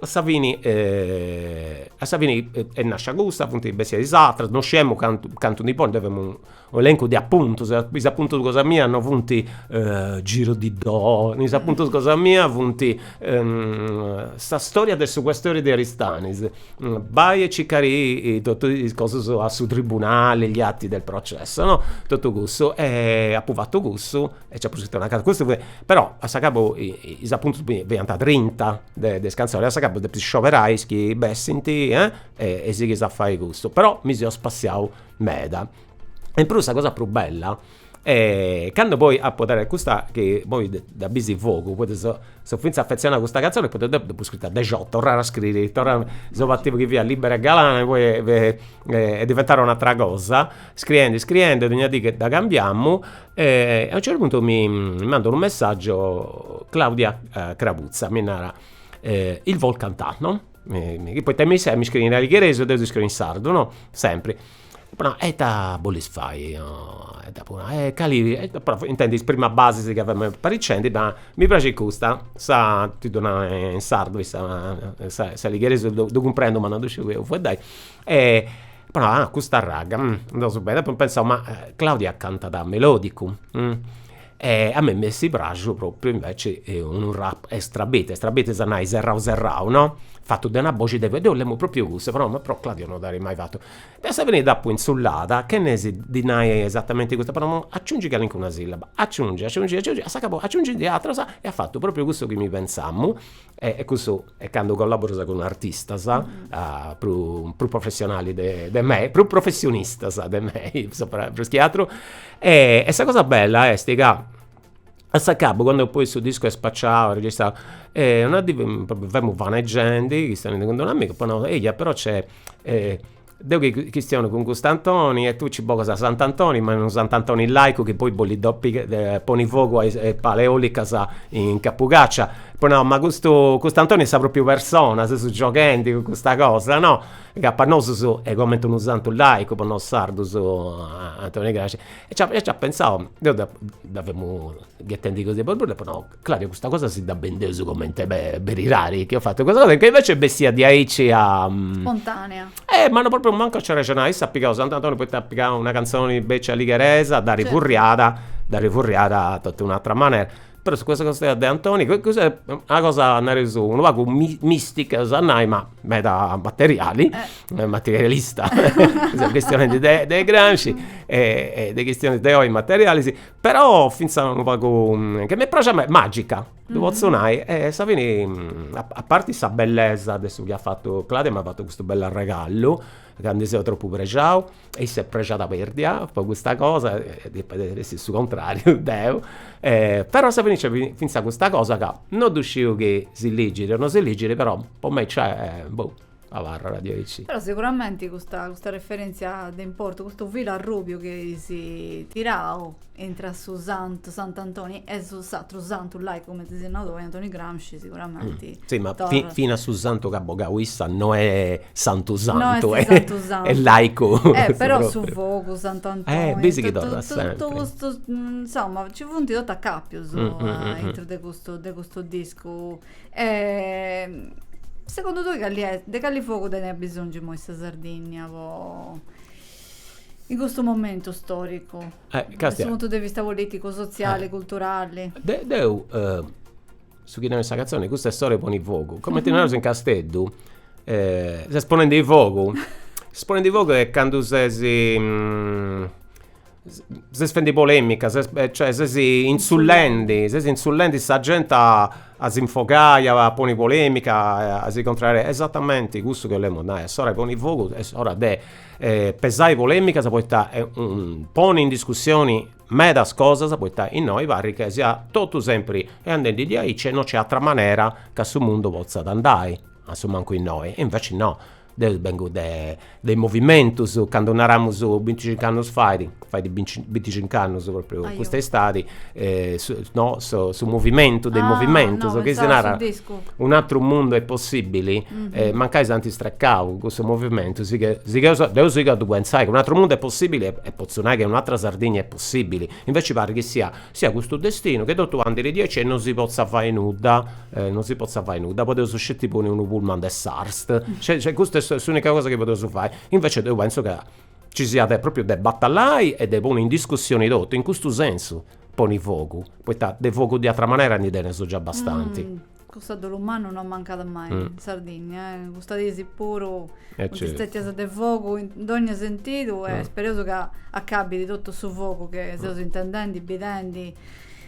A sa fini a sa fini est nascia custa, funt bessias is ateras, non scemu cantu cantu ndi podint, deu femu u' elencu de apuntus, is apuntus cosa mia non funt giru di do, is apuntus cosa mia funt sa storia de su questori de Aristanis, bai a circai totu is cosas a su tribunali, gli atti del processo, no, totu cussu e apu fatu cussu e nci apu scritu una cantzoni, però a s'agabu is apuntus fiant trinta de is cantzonis, a s'agabu depis scioberai is chi bessint e sighis a fai custu, però mi seu spassiau meda. In prus sa cosa prus bella est candu poi apu de, custa chi poi dda bisi fogu poita seu finzas afetzionau a custa cantzoni poita deu dd'apu scrita dexi, torrau a scriri, torrau, seu partiu chi fiat Libera e galana e poi est diventau un'atera cosa, scriendi, scriendi, dogna dì dda cambiamu E a unu certu puntu mi mandat unu messagiu Claudia Crabuzza, mi narat, hi vull cantar, poita mi scriit in aligheresu e deu scriu in sardu no, sempri, apu nau, e ita bolis fai, apu nau, e cali, intendi is primas basis chi femus aparicendi, mi nat, mi praxit custa, sa, ti ddu nau in sardu, sa sa s'aligheresu ddu cumprendu ma non ddu sciu beni fueddai E apo nau, ah custa arragu, andaus beni, apu pentzau, ma Claudia cantat a melodicu, e a mei m'essit praxu propriu inveci unu rap extra beat, extra beat is a nai serrau serrau no, fatu de una boxi de, deu bolemu propriu cussa, apu nau, ma però Claudia non dd'at mai fatu. Deu a sa fini dd'apu intzulada, chenesi ddi nai esatamenti custa, apu nau, aciungi calincuna sillaba, aciungi, aciungi, aciungi, a s'acabu aciungindi ateras e at fatu propriu cussu chi mi pentzamu E cussu est candu collàboras cun artistas prus professionali de mei, prus professionistas de mei, prus che àteru. E sa cosa bella est ca a s'acabu, candu poi su discu est spaciau, registrau, una dì femus fanegendi, cun d'unu amigu, apu nau, eia però nc'est Deu chi chistionu cun cust'Antoni e tui ci bogas a sant'Antoni, ma unu sant'Antoni laicu chi poi bollit ponni fogu a is palas eòlicas in Capu Caccia, apu nau ma custu cust'Antoni est sa propriu persona, seus gioghendi cun custa cosa, no, ca po nosus est cumenti unu santu laicu po nosu sardus Antoni Gramsci e nc'apu pentzau, deu dda femu ghetendi così po isburla e apu nau Claudia, custa cosa si dda bendeus comente berus, chi eus fatu custa cosa, e ca invecias bessiat diaici a. Spontanea. Eh ma no propriu mancu a nci arrexonai, issa at pigau Sant'Antoni, poita at pigau una cantzoni invecias aligheresa, dd'at rifurriada, dd'at rifurriada totu in un'atera manera, però su custa cosa de Antoni, cussa est una cosa nareus unu pagu mistica eus a nai, ma meda materiali, materialista, chistionendi de Gramsci e de chistionis diaici materialis Però fintzas unu pagu, che mi praxit meda, magica, ddu potzu nai, e a sa fini, a parti sa bellesa de su chi at fatu Claudia m'at fatu custu bellu arregallu, ca ndi seu tropu prexau, e issa est prexada perdia po custa cosa, e depiat essi su contrariu deu, però a sa fini nc'est fintzas custa cosa ca non ddu sciu chi si ligit o non si ligit, però po mei nc'est, boh abarrat diaici. Però sicuramente custa, custa referentzia de importu, custu filu arrubiu chi eis tirau intra su santu, sant'Antoni e su s'atru santu laicu, cumenti si nau tui, Antoni Gramsci, sicuramente. Si ma finas su santu chi at bogau issa no est santu santu. No est santu santu. Est laicu. Eh però su fogu, sant'Antoni. Eh bis chi torrat sempri. Totu custus, insoma, nci funt totus acapius aintru de custu, de custu discu E segundu tui calli est, de calli fogu tenet bisòngiu immoi sa Sardìnnia po in custu momentu stòricu, eh, de su puntu de vista polìticu, sotziali, eh. culturali? De, deu, eh, su chi naru in sa cantzoni, custa est s'ora 'e ponni fogu, cumenti nareus in Casteddu, eh, ses ponendi fogu, ses ponendi fogu e candu ses ses fendi polemica, ses cioè ses intzullendi, ses intzullendi sa genti a s'infogai, a ponni polemica, a s'incontrai, esatamenti cussu chi oleus nai, est s'ora 'e ponni fogu, est s'ora de pesai polemicas poita poni in discussioni medas cosas poita innoi parit chi siat totu sempri andendi diaici e non nc'est atera manera ca su mundu potzat andai, a su mancu innoi, e inveci no Deu bengu de is movimentus, candu naraus binticincu annus fait, fait binticincu annus propriu custa istadi, no su movimentu de is movimentus, chi si narat, un'atru mundu est possibili, mancai ant strecau cussu movimentu, deu sigu a ddu pensai, un'atru mundu est possibili e potzu nai chi un'atra Sardigna est possibili, inveci parit chi sia Siat custu destinu chi totu andit diaici e no si potzat fai nudda, no si potzat fai nudda, podeus sceti ponni unu pullman de s'Arst, cioè cioè custa est s'unica cosa chi podeus fai, invece deu pensu ca ci siat propriu de batallai e de ponni in discussioni totu, in custu sensu ponni fogu, poita de fogu de atra manera ndi teneus già abastanti Cussu dolu mannu non mancat mai mm. in Sardigna, eh? custas dis puru eh, funt certo. stètias de fogu in dognu sentidu e mm. spereus ca acabit totu su fogu chi mm. seus intendendi, bidendi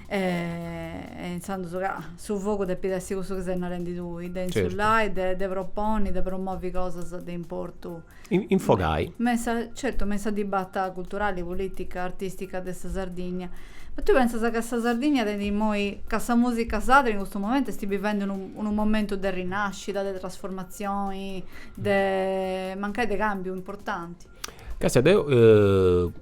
e, e insandus ca su fogu depit essi cussu chi ses narendi tui, de intzullai, certo. de, de proponi, de promovi cosas de importu infogai. Me in sa, certu, me in sa dibata culturali, politica, artistica de sa Sardinnia. Ma tui pensas ca sa Sardinnia tenit immoi, ca sa musica sadra in custu momentu esti bivendi unu, unu momentu de rinascita, de trasformazioni, de, mancai de cambiu importanti? Càstia, deu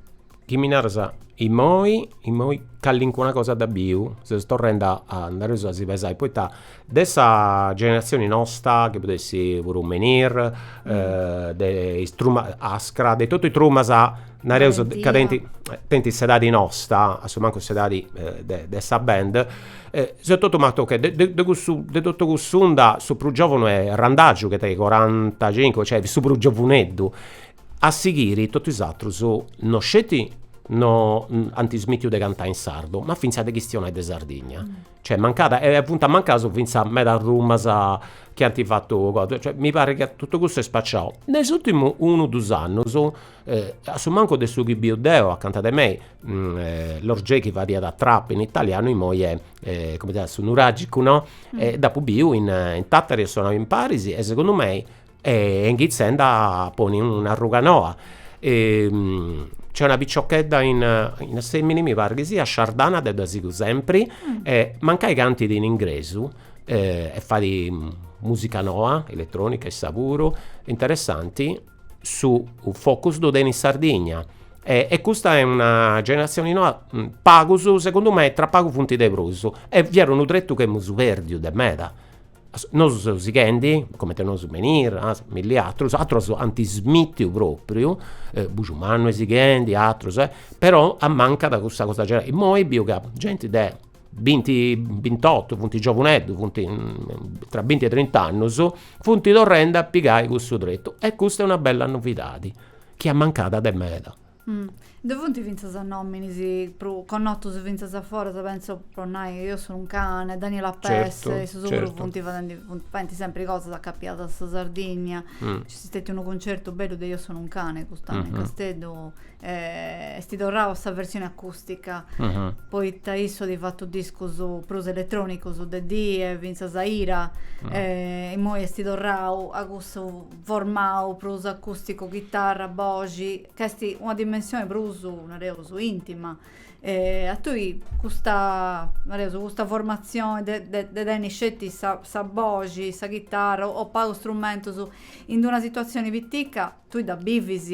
Chi mi naras immoi, immoi callincuna cosa dda biu, seus torrendi nareus a si pesai, poita de sa generatzioni nosta, chi podit essi puru Menhir, de is trumas, Askra, de totu is trumas nareus ca tenint, tenint s'edadi nosta, a su mancu s'edadi de sa band, seus totus matucheddus, de de cussu, de totu cuss'unda su prus giovunu est Randagiu chi tenit corantacincu, cioè su prus giovuneddu A sighiri totu is atrus no sceti ant smitiu de cantai in sardu, ma fintzas de chistionai de Sardigna. Cioè mancat, e funt mancaus fintzas medas trumas chi ant fatu cosa, cioè mi parit ca totu cussu est spaciau. Me is urtimus unu dus annus, a su mancu de su chi biu deu, acanta de mei, Low-Red chi fadiat trap in italianu, imoi est cumenti si narat su nuragicu, no. Dd'apu biu in Tattari at sonau in Parisi e segundu mei E inghitzendi a poni un'arruga noa e nc'est una piciochedda in in Assemini mi parit chi siat Shardana deu dda sigu sempri e mancai cantit in ingresu e e fait musica noa, eletronica issa puru, interessanti, su focus ddu tenit in Sardigna e e custa est una generatzioni noa, pagus, segundu mei, tra pagu funt de prus e fiat unu tretu chi amus pèrdiu de meda Nosu seus sighendi, comente nosu Menhir, milli atrus, atrus ant smittiu propriu, Bujumannu est sighendi, atrus, però ammancat cussa cosa gei. Immoi biu ca genti de binti bintotu, funt giovuneddu, funt tra binti e trint'annus, funt torrendi a pigai cussu tretu e custa est una bella novidadi chi ammancat de meda Nde funt fintzas nominis prus connotus fintzas a foras, pentzu po nai Iosonouncane, Daniela Pes, Certu, issu puru certu. funt fadendi, funt fadendi sempri cosas acapiadas a sa Sardigna. Nci est stetiu unu concertu bellu de Iosonouncane cust'annu in Casteddu, est torrau a sa versioni acustica, poita issu at fatu discus prus elettronicus de Die fintzas a Ira, e immoi est torrau a cussu formau prus acusticu chitarra boxi ca est una dimensioni prus nareus intima e a tui custa nareus custa formatzioni de de de tenni sceti sa sa boxi sa chitarra o pagus strumentus in d'una situazioni pitica tui dda bivis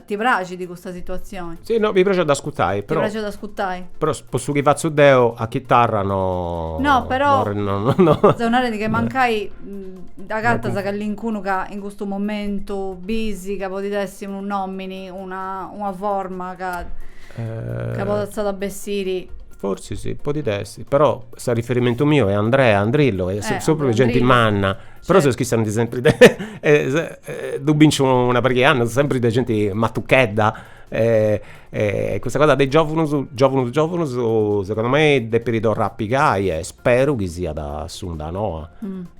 ti praxit custa situatzioni? Sì, no, mi praxit a dd'ascutai però. Ti praxit a dd'ascutai? Però po su chi fatzu deu a chitarra no. No però seu narendi che mancai dd'agatas callincunu ca in custu momentu bisi ca podit essi unu nomini, una una forma ca ca potzat bessiri. Forsis sì, podit essi, però s'arriferimentu miu est Andrea Andrillo, e seu propriu genti manna Però seus chistionendi sempri de ddu binciu una pariga 'e annus, sempri de genti matuchedda e e custa cosa de is giovunus, giovunus giovunus segundu mei depiri torrai a pigai e speru chi siat s'unda noa,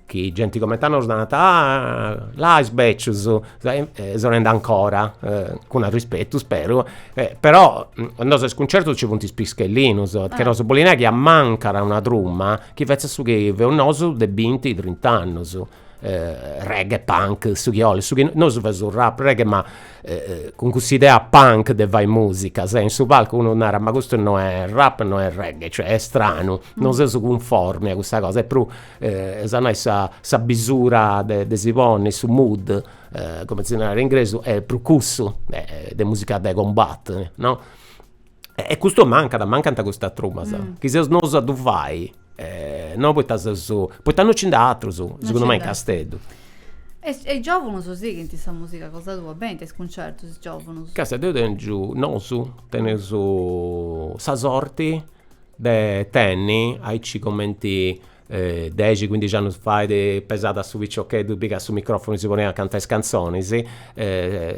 chi genti cumenti a nosu narat, ah là is becius sonendi ancora, cun arrispetu speru, però nosu a is cuncertus nci funt is pischellinus, atteros bolit nai chi ammancara una truma Chi fetzat su chi feus nosu de binti trint'annus, reggae, punk, su chi 'olis, su chi, nosu feus rap, reggae ma cun cuss'idea punk de fai musica, seus in su palcu unu narat ma custu no est rap no est reggae, cioè est stranu, non seus cunformi a custa cosa, eppuru eus a nai sa sa bisura de de si ponni, su mood, cumenti si narat in ingresu, est prus cussu de musica de combatiri, no E custu mancat, mancant custas trumas, chi seus nosu a ddu fai, no poita seus, poita no nci nd'est atrus, segundu mei, in Casteddu. E is giovunus sighint sa musica cosa tua, benint a is cuntzertus is giovunus? Castia, deu tengiu, nosu teneus sa sorti de tenni aici cumenti Dexi cuindixi annus fait pesàt su piciocheddu pigàt su microfonu e si poniat a cantai is cantzonis.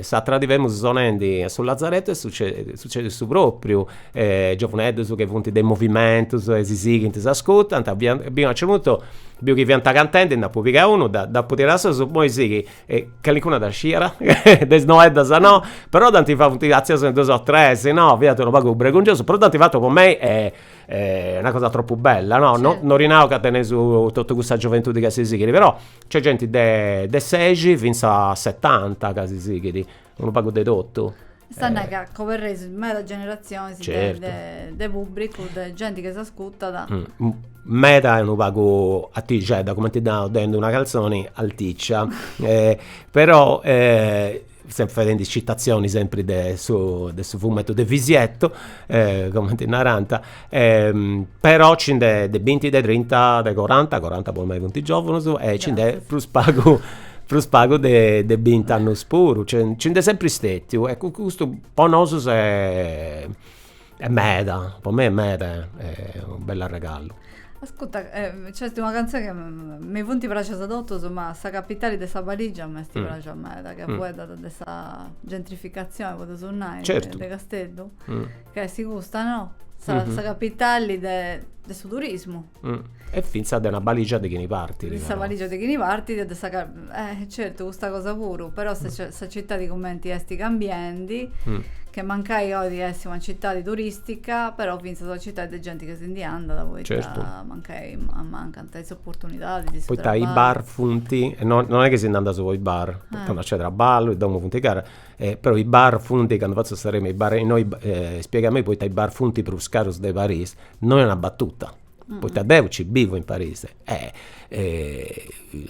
S'atera dì femus sonendi a su lazaretu e sucedit su propriu, giovuneddus chi funt de movimentus e si sighint e s'ascurtant, fiant, biu a certu puntu, biu chi fiant cantendi, nd'apu pigau unu, dd'apu tirau a susu, moi sighi, e callincuna dda sciiat, de is noas no, però dd'ant fatu, funt atziaus duus o tres, no, fiant unu pagu bregungiosus, però dd'ant fatu po mei e Est una cosa tropu bella, no, non ti nau ca teneus totu custa gioventudi ca si sighit, però nc'est genti de sexi fintzas a setanta ca si sighit, unu pagu de totu. Est a nai ca coberreis medas generatzionis de de pubbricu, de genti chi s'ascutat. Meda est unu pagu atixedda, cumenti nau deu in d-una cantzoni, alticcia, però fadendi citatzionis sempri de su de su fumetu de Fisietto, cumenti narant, però nci nd'est de binti, de trinta, de coranta, coranta po mei funt giovunus, e nci nd'est prus pagu prus pagu de de binti annus puru, nci nd'est sempri stetiu e custu po nosu s'est Est meda, po mei est meda est unu bellu arregallu. Ascurta, nc'est una cantzoni chi mi funt praxias totus, ma sa capitali de sa balìgia m'est praxia meda, chi fueddat de sa gentrificatzioni, podeus nai, de Casteddu, ca est custa, no, sa capitali de su turismu E fintzas de una balìgia de chini partit. De sa balìgia de chini partit e de sa eh certu custa cosa puru, però sa sa citadi cumenti esti cambiendi, chi mancai oi esti una citadi turistica, però fintzas una citadi de genti chi si ndi andat poita mancai ammancant is opportunidadis. Poita i bar funti, no no est chi si nd'andas po i bar, po no nc'est trabballu, is domus funti caras Però is bar funt, candu fatzu sa rima, innoi spiegamai poita is bar funt prus carus de Paris, no est una batuta, poita deu nci bivu in Paris e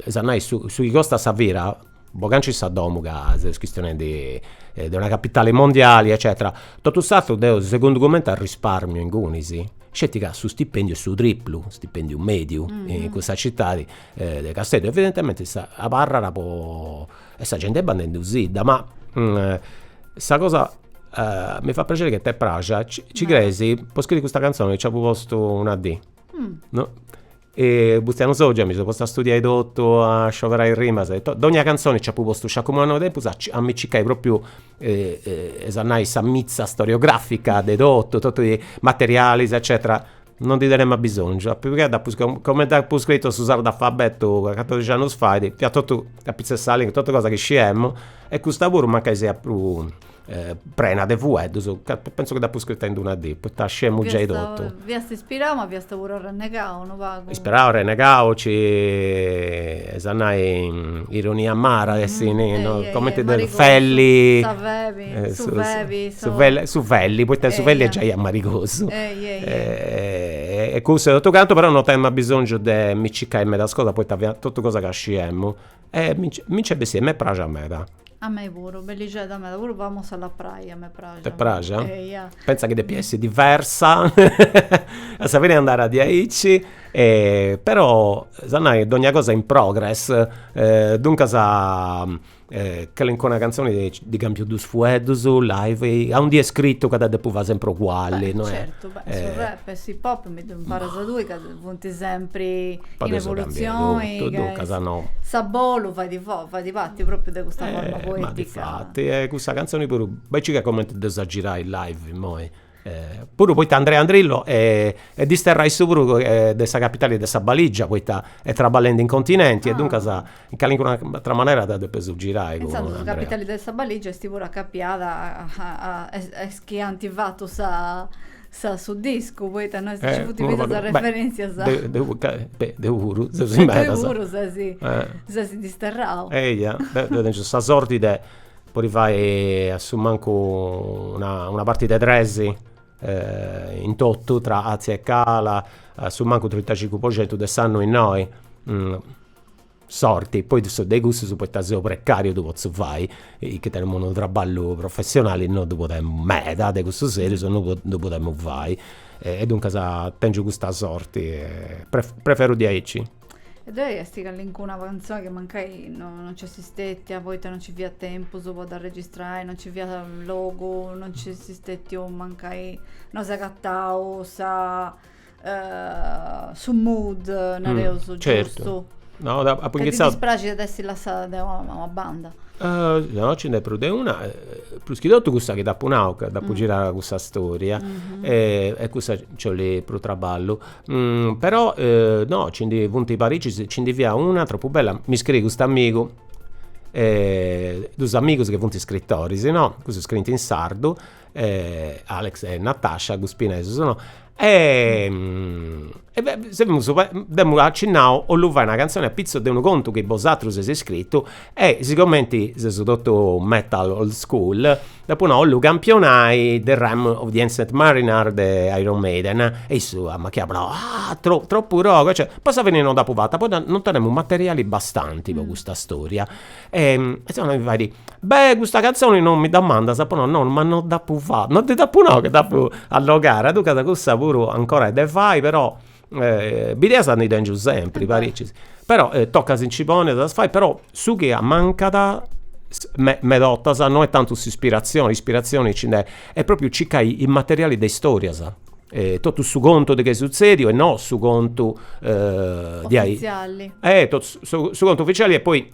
sciu nai su chi costat sa bira, bogandi-nci sa domu ca seus chistionendi de una capitali mondiali eccetera, totu s'ateru deu segundu cumenti arrisparmiu ingunis, sceti ca su stipendiu est su triplu, su stipendiu mediu in custa citadi de Casteddu, evidentementi s'abarrat po e sa genti b'andat in dusida, ma sa cosa mi fait prexeri chi ti praxat, ci creis, po scriri custa canzoni nci apu postu una dì, bustianu s'ogiu e mi seu postu a studiai totu, a scioberai rimas e totu, dogna canzoni nci apu postu sciacu mannu de tempus a mi circai propriu, eus a nai, sa mitza storiografica de totu, totu is materialis eccetera Non ndi tenemu abisongiu, apu pigau e dd'apu scomprau, cumenti apu scritu su sardu alfabetu catordixi annus fait, fiat totu a pitzus 'e sa lingua, totu cosas chi sciemu e custa puru mancai siat prus prena de fueddus, ca pentzu chi dd'apu scrita in d'una dì, poita sciemu giai totu. Fiast ispirau ma fiast puru arrennegau unu pagu. Ispirau, arrennegau, nci as a nai ironia amara, est in, cumenti, felli su felli, poita su felli est giai amarigosu. E cussu e totu cantu, però non tenemu bisongiu de mi circai medas cosas poita fiant totu cosas chi sciemu e mi mi nc'est bessia e m'est praxia meda. A mei puru, mi bellixedda meda, puru Vamos a la playa m'est praxia. T'est praxia? Eia. Pentza chi depia essi diversa, a sa fini andara diaici e però eus a nai dogna cosa in progress, duncas Calincuna cantzone ddi cambiu dus fueddus, live, aundi est scritu ca dda depu fai sempri oguali, no est. Certu, beh, su rap e s'hip-hop mi ddu imparas tui ca funt sempri in evoluzioni, sa bolu fait fait parti propriu de custa forma poetica. Ma difati, e custa cantzoni puru, bai e circa cumenti dd'eus a girai live imoi puru poita Andrea Andrillo est disterrau issu puru de sa capitali de sa Baligia poita est traballendi in continenti e duncas in calincuna atra manera dda depeus girai cun Andrea. Intzandus sa capitali de sa Baligia est puru acapiada a is chi ant fatu sa sa su discu poita no est chi funt fia sas referèntzias deu puru seus medas. Tui puru ses disterrau. Eia deu tengiu sa sorti de podi fai a su mancu una parti de tres in totu tra atzia e cala a su mancu trintacincu po centu de s'annu innoi sorti poi de cussus poita seu precariu ddu potzu fai chi tenemu unu traballu professionali no ddu podemu meda de cussus serius no ddu podemu fai e duncas tengiu custa sorti e preferu diaici E ddoi est calincuna cantzone chi mancai no, no nci est stètia, poita no nci fiat tempus po dda registrai, no nci fiat logu, no nci est stètiu mancai, no as agatau sa su mood, nareus, giustu. Certu. No, apu Ca ti dispraxit a essi lassada de una banda. No, nci nd'est prus de una, prus chi totu cussa chi dd'apu nau, ca dd'apu girada cussa storia e cussa nci 'olit prus traballu Però no, nci ndi funt paricis, nci ndi fiat una tropu bella, mi scriit custu amigu, duus amigus chi funt scritoris no, cussus scriint in sardu, Alex e Natasha Cuspinesus no, e deu apu nau 'ollu fai una cantzoni apizus de unu contu chi bosatrus eis scritu E sigomenti seus totus metal old school dd'apu nau, 'ollu campionai The Rime of the Ancient Mariner de Iron Maiden. E issu ammachiau po nai, ah tropu togu, aici, po sa fini non dd'apu fata, poita non tenemu materiali bastanti po custa storia. E insaras mi fait, beh custa cantzoni non mi dda mandas, apu nau, no ma non dd'apu fata, non ti dd'apu nau chi dd'apu allogada, duncas cussa puru 'ncora est de fai però Bideas ndi tengiu sempri, paricis, però tocat a si nci ponni a ddas fai, però su chi ammancat me in totas no est tanti s'ispiratzioni, ispiratzioni nci nd'est, est pròpriu circai is materialis de istorias, totu su contu de chi est sutzediu e no su contu diai, totu su contu oficiali e poi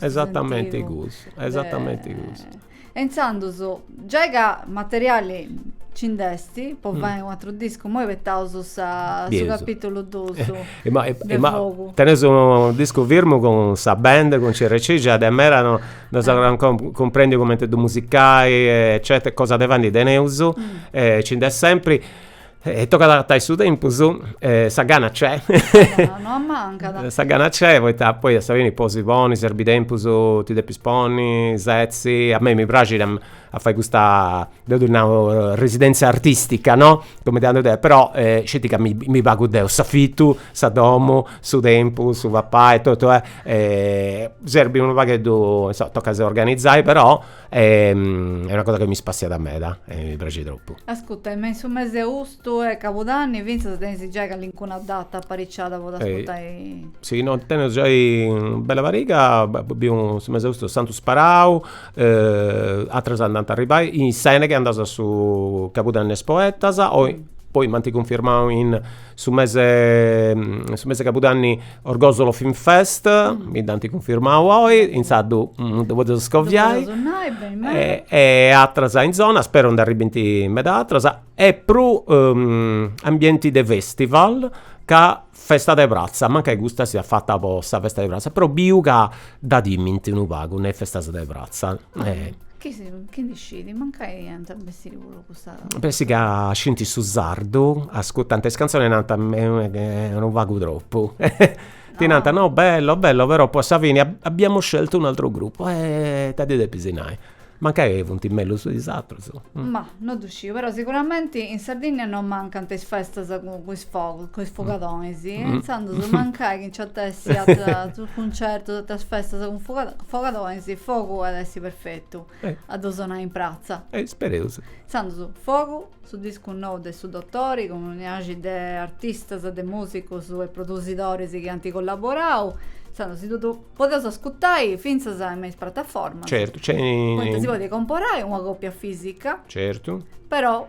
Esatamenti cussu, esatamenti cussu. E intzandus, giai ca materiali nci nd'est po fai u' atru discu, imoi abetaus sa, su capitulu duus de fogu. Teneus unu discu firmu cun sa band, cun CRC già, de meda no seus ancora cumprendi cumenti ddu musicai, eccetera, cosa de fai ndi teneus e nci nd'est sempri E tocat a agatai su tempus, sa gana nc'est. No ammancat. Sa gana nc'est poita poi a sa fini po si ponni serbit tempus, ti depis ponni, setzi, a mei mi praxit a fai custa, deu ddi nau una residenza artistica no, cumenti andu deu, però sceti ca mi pagu deu s'afitu, sa domu, su tempus, su papai, totu, serbit unu pagheddu, insoma, tocat a s'organizai però Est una cosa chi mi spassiat meda e mi praxit tropu. Ascurta, e me in su mesi 'e austu e cabudanni fintzas tenis giai callincuna data apariciada po t'ascurtai? Sì, ndi teneus giai bella pariga, apu biu su mesi 'e austu Santu Sparau, ateras ant a arribai, in Seneghe andaus a su cabudanni 'e is poetas, poi m'ant cunfirmau in su mesi in su mesi 'e cabudanni Orgosolo Film Fest, mi dd'ant cunfirmau oi, intzandus ddu podeus scoviai, e atras in zona, spero nd'arribbint meda atras, e prus ambienti de festival ca festa de pratza, mancai custa siat fata po sa festa de pratza, però biu ca dda timint unu pagu, me is festas de pratza. Chi si, chi ndi scit, mancai iant a bessiri puru Pensi ca scinti su sardu, ascurtant is canzoni e nant, unu pagu tropu, ti nant, no bello bello però poi a sa fini abbiamo scelto un altro gruppo, e ita ddi depis nai, mancai funt mellus is atrus. Ma non ddu sciu, però sicuramenti in Sardinnia non mancant is festas cun is fogus, cun is fogadonis, e intzandus mancai chi nc'at essi atrus cuncertus, atras festas cun fogadonis, fogu at essi perfetu. a ddu sonai in pratza. Spereus. Intzandus, fogu, su discu nou de su Dottori, cun un'iaxi de artistas, de musicus e produsidoris chi ant collaborau. Intzandus, si ddu podeus ascutai fintzas me is prataformas. Certu, nc'est. Poita si podit comporai una copia fisica. Certu. Però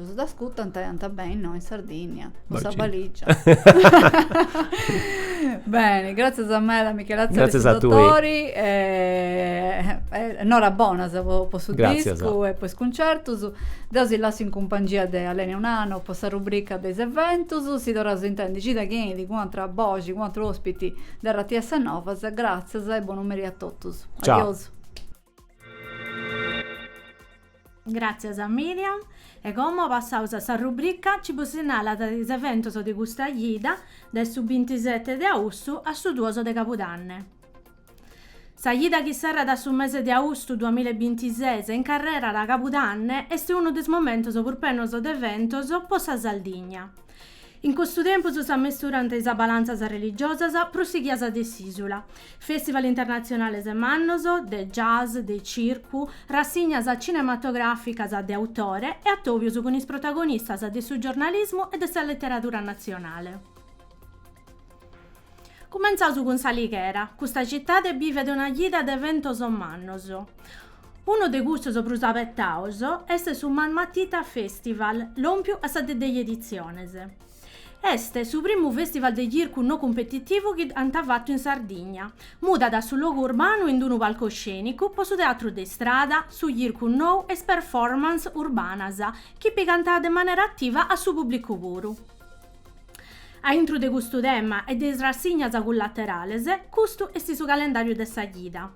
Si t'ascutant e ant benni innoi in Sardìnnia cun sa balìgia. Beni, gràtzias meda Michele Atzori, su dotori, e norabonas po su discu e po is cuncertus. Deu si lassu in cumpangia de Alene Onano po sa rubrica de is eventus. Si torraus a intendi cida chi 'enit cun u' atera boxi, cun u' ateru ospiti de RTS Novas. Gràtzias e bonu merì a totus. Adiosu. Gràtzias a Miriam. E como passaus a sa rubrica, ci bos sinnalat is eventos de custa chida, dae su bintisete de austu a su duos de cabudanne. Sa chida chi serrat su mese de austu duamilla e bintises e incarrerat cabudanne est unu de is momentos prus prenos de eventos po sa Sardigna. In custu tempus s'ammesturant is alabantzas religiosas prus sighias de s'ìsula, fèstival internatzionales mannos de jazz, de circu, rassignas cinematogràficas de autore e atòbios cun is protagonistas de su giornalismu e de sa leteradura natzionale. Cumentzaus cun S'Alighera, custa citade bivet una chida de eventos mannos. Unu de custos prus abetaos est su Mamatita Festival, lòmpiu a sa de deghe editziones. Est su primu festival de circu no cumpetitivu chi ant fatu in Sardigna. Mudat su logu urbanu in unu palcoscènicu po su teatru de istrada, su circu nou e is performance urbanas, chi pigant de manera ativa a su pùblicu puru. A intru de custu tema e de is rassignas cullaterales, custu est su calendàriu de sa chida.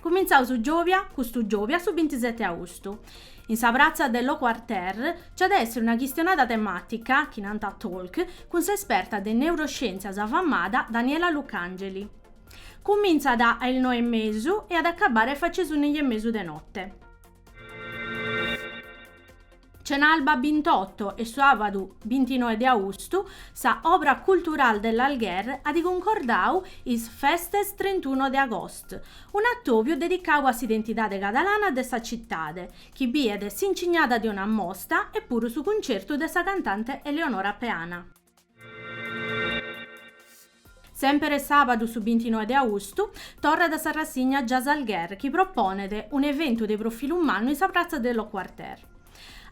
Cumintzaus giòbia, custu giòbia, su bintisete austu. In sa pratza de Lo Quarter nci at a èssere una chistionada temàtica, chi nant talk, cun s'esperta de neuroscièntzia afamada Daniela Lucangeli. Cumintzat a is noe e mesu e at a acabare faci is ùndighi e mesu de note. Cenalba bintotto e sàbadu bintinoe de austu sa Obra Cultural de l'Alguer at cuncordau is Festes Trentuno de Agost, un'atòbiu dedicau a s'identidade cadalana de sa citade, chi biet s'incignada de una mosta e puru su cuncertu de sa cantante Eleonora Peana. Semper sàbadu su bintinoe de austu torrat s'arrassigna JazzAlguer chi proponet un'eventu de profilu mannu in sa pratza de Lo Quarter.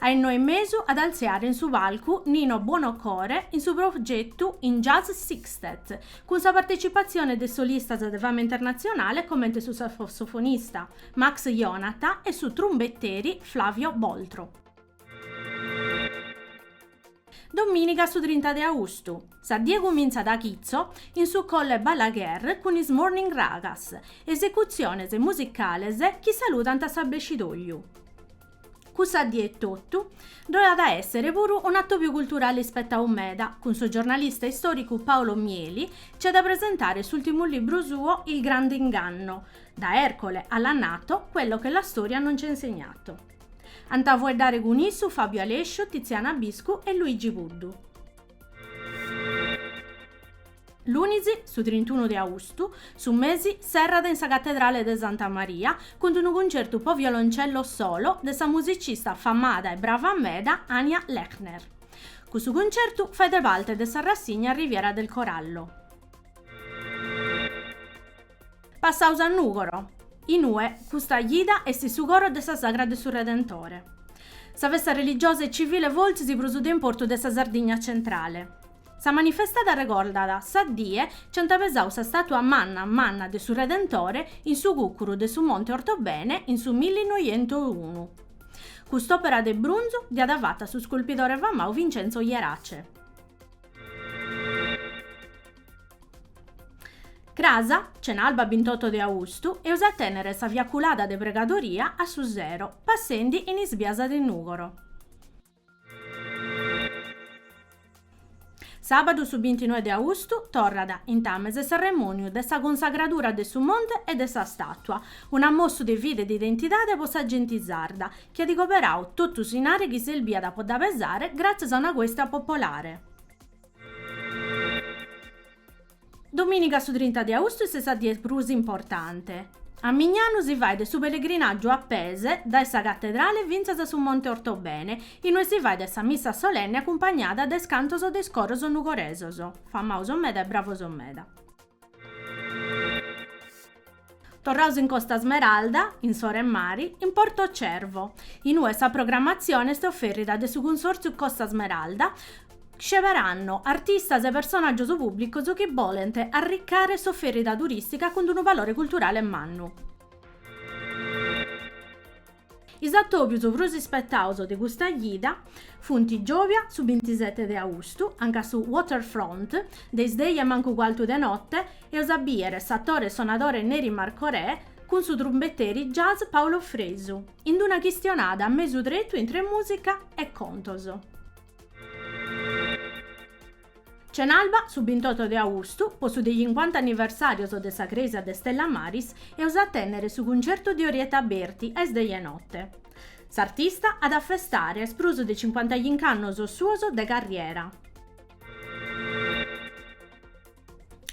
A is noe e mesu at a artzeare in su palcu Nino Buonocore in su progetu In Jazz Sixtet, cun sa partecipatzione de solistas de fama internatzionale comente su sassofonista Max Ionata e su trumbeteri Flavio Boltro. Domìniga su trinta de austu. Sa die cumintzat a chitzo in su Colle Balaguer cun is Morning Ragas, esecutziones musicales chi saludant a s'abbescidogliu. Cussa die etotu ddoe at a èssere puru un'atòbiu culturale ispetadu meda, cun su giornalista istòricu Paolo Mieli chi at a presentare s'ùrtimu libru suo Il grande inganno, Da Ercole alla NATO, quello che la storia non ci ha insegnato. Ant a fueddare cun issu Fabio Alesciu, Tiziana Biscu e Luigi Puddu. Lunis, su trintunu de austu, su mesi serrat in sa Catedrale de Santa Maria cun d'unu cuncertu po violoncello solo de sa musicista famada e brava meda Anja Lechner. Cussu cuncertu fait parte de sa rassigna Riviera del Corallo. Passaus a Nùgoro, in ue custa jida est su coro de sa Sagra de su Redentore, sa festa religiosa e civile fortzis prus de importu de sa Sardigna centrale. Sa manifestada arregordat sa die chi ant pesau sa stàtua manna manna de su Redentore in su cùcuru de su monte Ortobene in su milli noientounu. Cust'òpera de brunzu dd'iat fata su scolpidore famau Vincenzo Jerace. Cras, cenalba bintotto de austu, eus a tènnere sa fiaculada de pregadoria a su sero, passendi in is bias de Nùgoro. Sàbadu su bintinoe de austu torrat, intames, s'arremòniu de sa consagradura de su monte e de sa stàtua, un'amossu de fide e de identidade po sa genti sarda, chi at coberau totu s'inari chi serbiat po dda pesare gràtzias a una cuesta popolare. Domìniga su trinta de austu est sa die prus importante. A mignanu si fait su pelegrinàgiu a pese dae sa catedrale fintzas a su Monte Ortobene, in ue si fait sa missa solenne acumpagnada dae is cantos de is coros nugoresos, famaus meda e bravos meda. Torraus in Costa Smeralda, in s'ora 'e mari, in Porto Cervo, in ue sa programmatzione est oferrida de su Cunsòrtziu Costa Smeralda, sceberando artistas e personàgios pùblicos chi bolent arricare s'oferrida turìstica cun unu valore culturale mannu. Is atòbius prus ispetados de custa chida funt Giòvia su bintisete de austu, anca a su Waterfront, de is deje mancu cuartu de note, eus a bìere s'atore e sonadore Neri Marcorè cun su trumbeteri jazz Paolo Fresu, in una chistionada a mesu tretu intre mùsica e contos. Cenalba, su bintoto de austu, po su de chincuanta anniversàrios de sa crèsia de Stella Maris, eus a tènnere su cuncertu de Orietta Berti a is deje 'e note. S'artista at a festare is prus de cincuantachincu annos suos de carriera.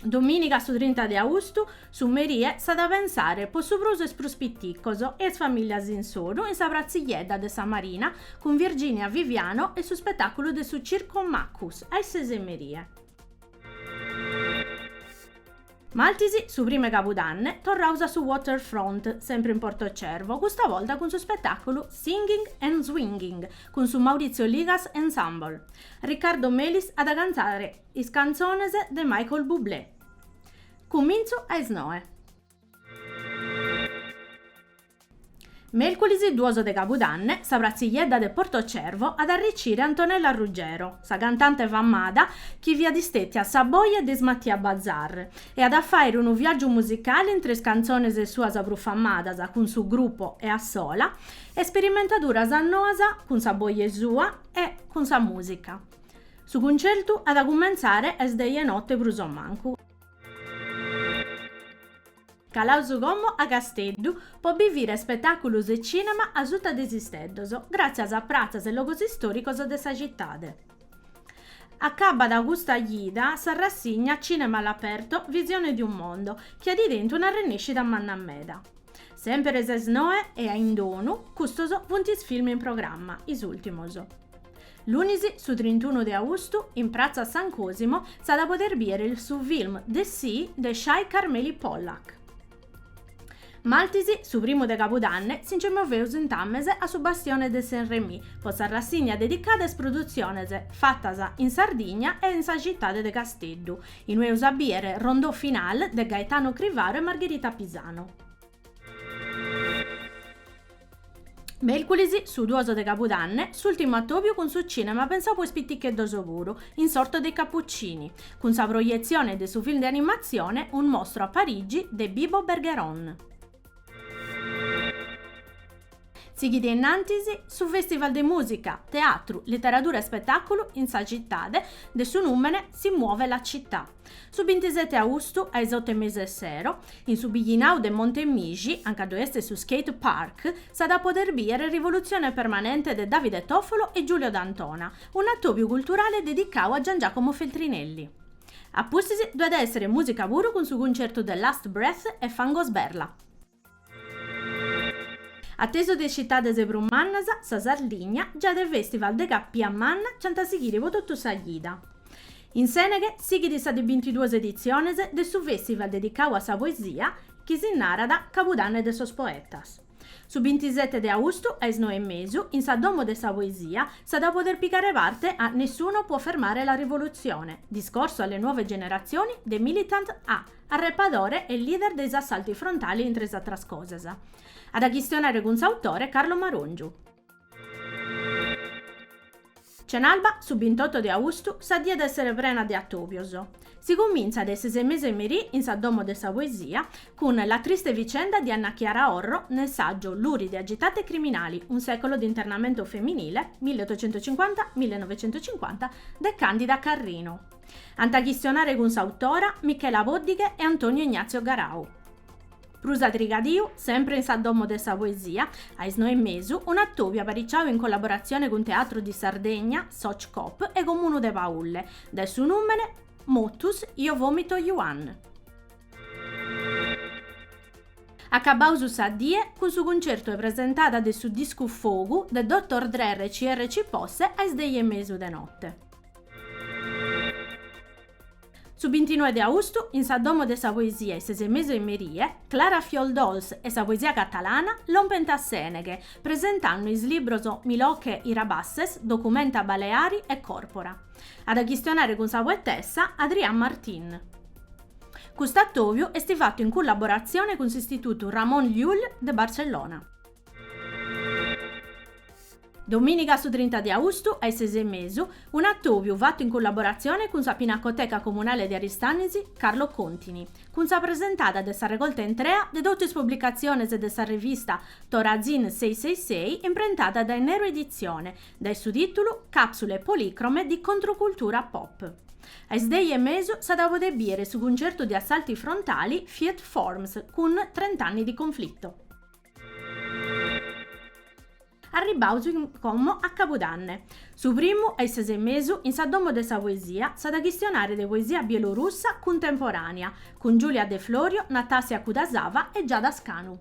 Domìniga su trinta de austu, su merie s'at a pensare po su prus a is prus piticos e is famìlias insoru in sa pratzighedda de sa Marina cun Virginia Viviano e su spetàculu de su Circo Maccus a is ses 'e merie. Martis, su primu 'e cabudanne, torraus a su Waterfront, sempre in Portocervo, custa borta cun su spetàculu Singing and Swinging cun su Maurizio Ligas Ensemble. Riccardo Melis at a cantzare. Is cantzones de Michael Bublé. Cumintzu a is noe. Mèrculis duos de cabudanne, sa pratzighedda de Portocervo at a arricire Antonella Ruggiero, sa cantante famada chi fiat stètia sa boje de is Matia Bazar, e at a fàere unu viàgiu musicale intre is cantzones suas prus famadas cun su grupo e a sola, e sperimentaduras noas cun sa boje sua e cun sa mùsica. Su cuncertu at a cumentzare a is deje 'e note prus o mancu. Calaus como a Casteddu po bivire ispetàculos e cinema asuta de is isteddos, gràtzias a pratzas e logos istòricos de sa citade. Acabat custa chida sa rassigna Cinema all'aperto, visione di un mondo, chi at tentu una renèscida manna meda. Semper a is noe e a indonu, custos funt is film in programma, is ùrtimos. Lunis su trintunu de austu, in pratza San Cosimo, s'at a poder bier su film The Sea de Shai Carmeli-Pollak. Martis, su primu de cabudanne, si nce moveus intames a su Bastione de Saint-Remy po sa rassigna dedicada a is produtziones fatas in Sardigna e in sa citade de Casteddu, in ue eus a bier Rondò Final de Gaetano Crivaro e Margherita Pisano. Mèrculis, su duos de cabudanne, s'ùrtimu atòbiu cun su cìnema pensau po is piticheddos puru, in s'orto dei Cappuccini, cun sa proietzione de su film de animatzione Un mostro a Parigi de Bibo Bergeron. Sighit innantis su fèstival de mùsica, teatru, literadura e spetàculu in sa citade, de su nùmene Si muove la città. Su bintisete austu a is oto e mesa 'e sero, in su bighinau de Monte Mixi, anca ddoe est su Skate Park, s'at a poder bìere Rivoluzione permanente de Davide Toffolo e Giulio D'Antona, un'atòbiu culturale dedicau a Giangiacomo Feltrinelli. A pustis ddoe at a èssere mùsica puru cun su cuncertu de Last Breath e Fangosberla. Atesu de citades prus mannas, sa Sardigna, giai de fèstival de capia manna nch'ant a sighire po totu sa chida. In Sèneghe sighit sa de bintiduos editziones de su fèstival dedicau a sa poesia chi si narat Cabudanne de sos Poetas. Su bintisete de austu a is noe e mesu in sa Domo de sa Poesia s'at a poder pigare parte a Nessuno può fermare la rivoluzione, discorso alle nuove generazioni de Militant A. arrepadore e leader de is Assalti Frontali intre is atras cosas. At a chistionare cun s'autore Carlo Marongiu. Cenalba, su bintotto de austu, sa die at èssere prena de atòbios. Si cumintzat de is ses e mesa 'e merì in sa Domo de sa Poesia cun La triste vicenda di Annachiara Orro nel saggio Luride, agitate, criminali, un secolo d'internamento femminile, milleottocentocinquanta-millenovecentocinquanta, de Candida Carrino. Ant a chistionare cun s'autora Michela Poddighe e Antonio Ignazio Garau. Prus a trigadiu, sempre in sa Domo de sa Poesia, a is noe e mesu, un'atòbiu apariciau in collaboratzione cun Teatro di Sardegna Soc Coop e Comunu de Paulle, dae su nùmene Motus, Io vomito Yuan. Acabaus sa die cun su cuncertu 'e presentada de su discu Fogu de Dottor Drer e CRC Posse a is deghi e mesu de note. Su bintinoe de austu, in sa Domo de sa Poesia a is ses e mesu 'e merie, Clara Fiol Dols e sa poesia catalana lompent a Sèneghe, presentanno is libros Miloques i rabasses, Documenta Balear e Còrpora. At a chistionare cun sa poetessa Adrian Martin. Cust'atòbiu est fatu in cullaboratzione cun s'Istitutu Ramon Llull de Barcellona. Domìniga su trinta de austu, a is ses e mesu, un'atòbiu fatu in cullaboratzione cun sa Pinacoteca Comunale de Aristanisi Carlo Contini, cun sa presentada de s'arregolta intrea de totu is publicatziones de sa revista Torazine sei sei sei imprentada dae Nero Editzione, dae su tìtulu Capsule policrome di controcultura pop. A is dei e mesu s'at a pòde bìere su cuncertu de Assalti Frontali feat. Forms cun Trent'anni di conflitto. Arribbaus como a cabudanne. Su primu a is ses e mesu in sa Domo de sa Poesia s'at a chistionare de poesia bielorussa cuntemporànea cun Giulia De Florio, Natasia Kudasava e Giada Scanu.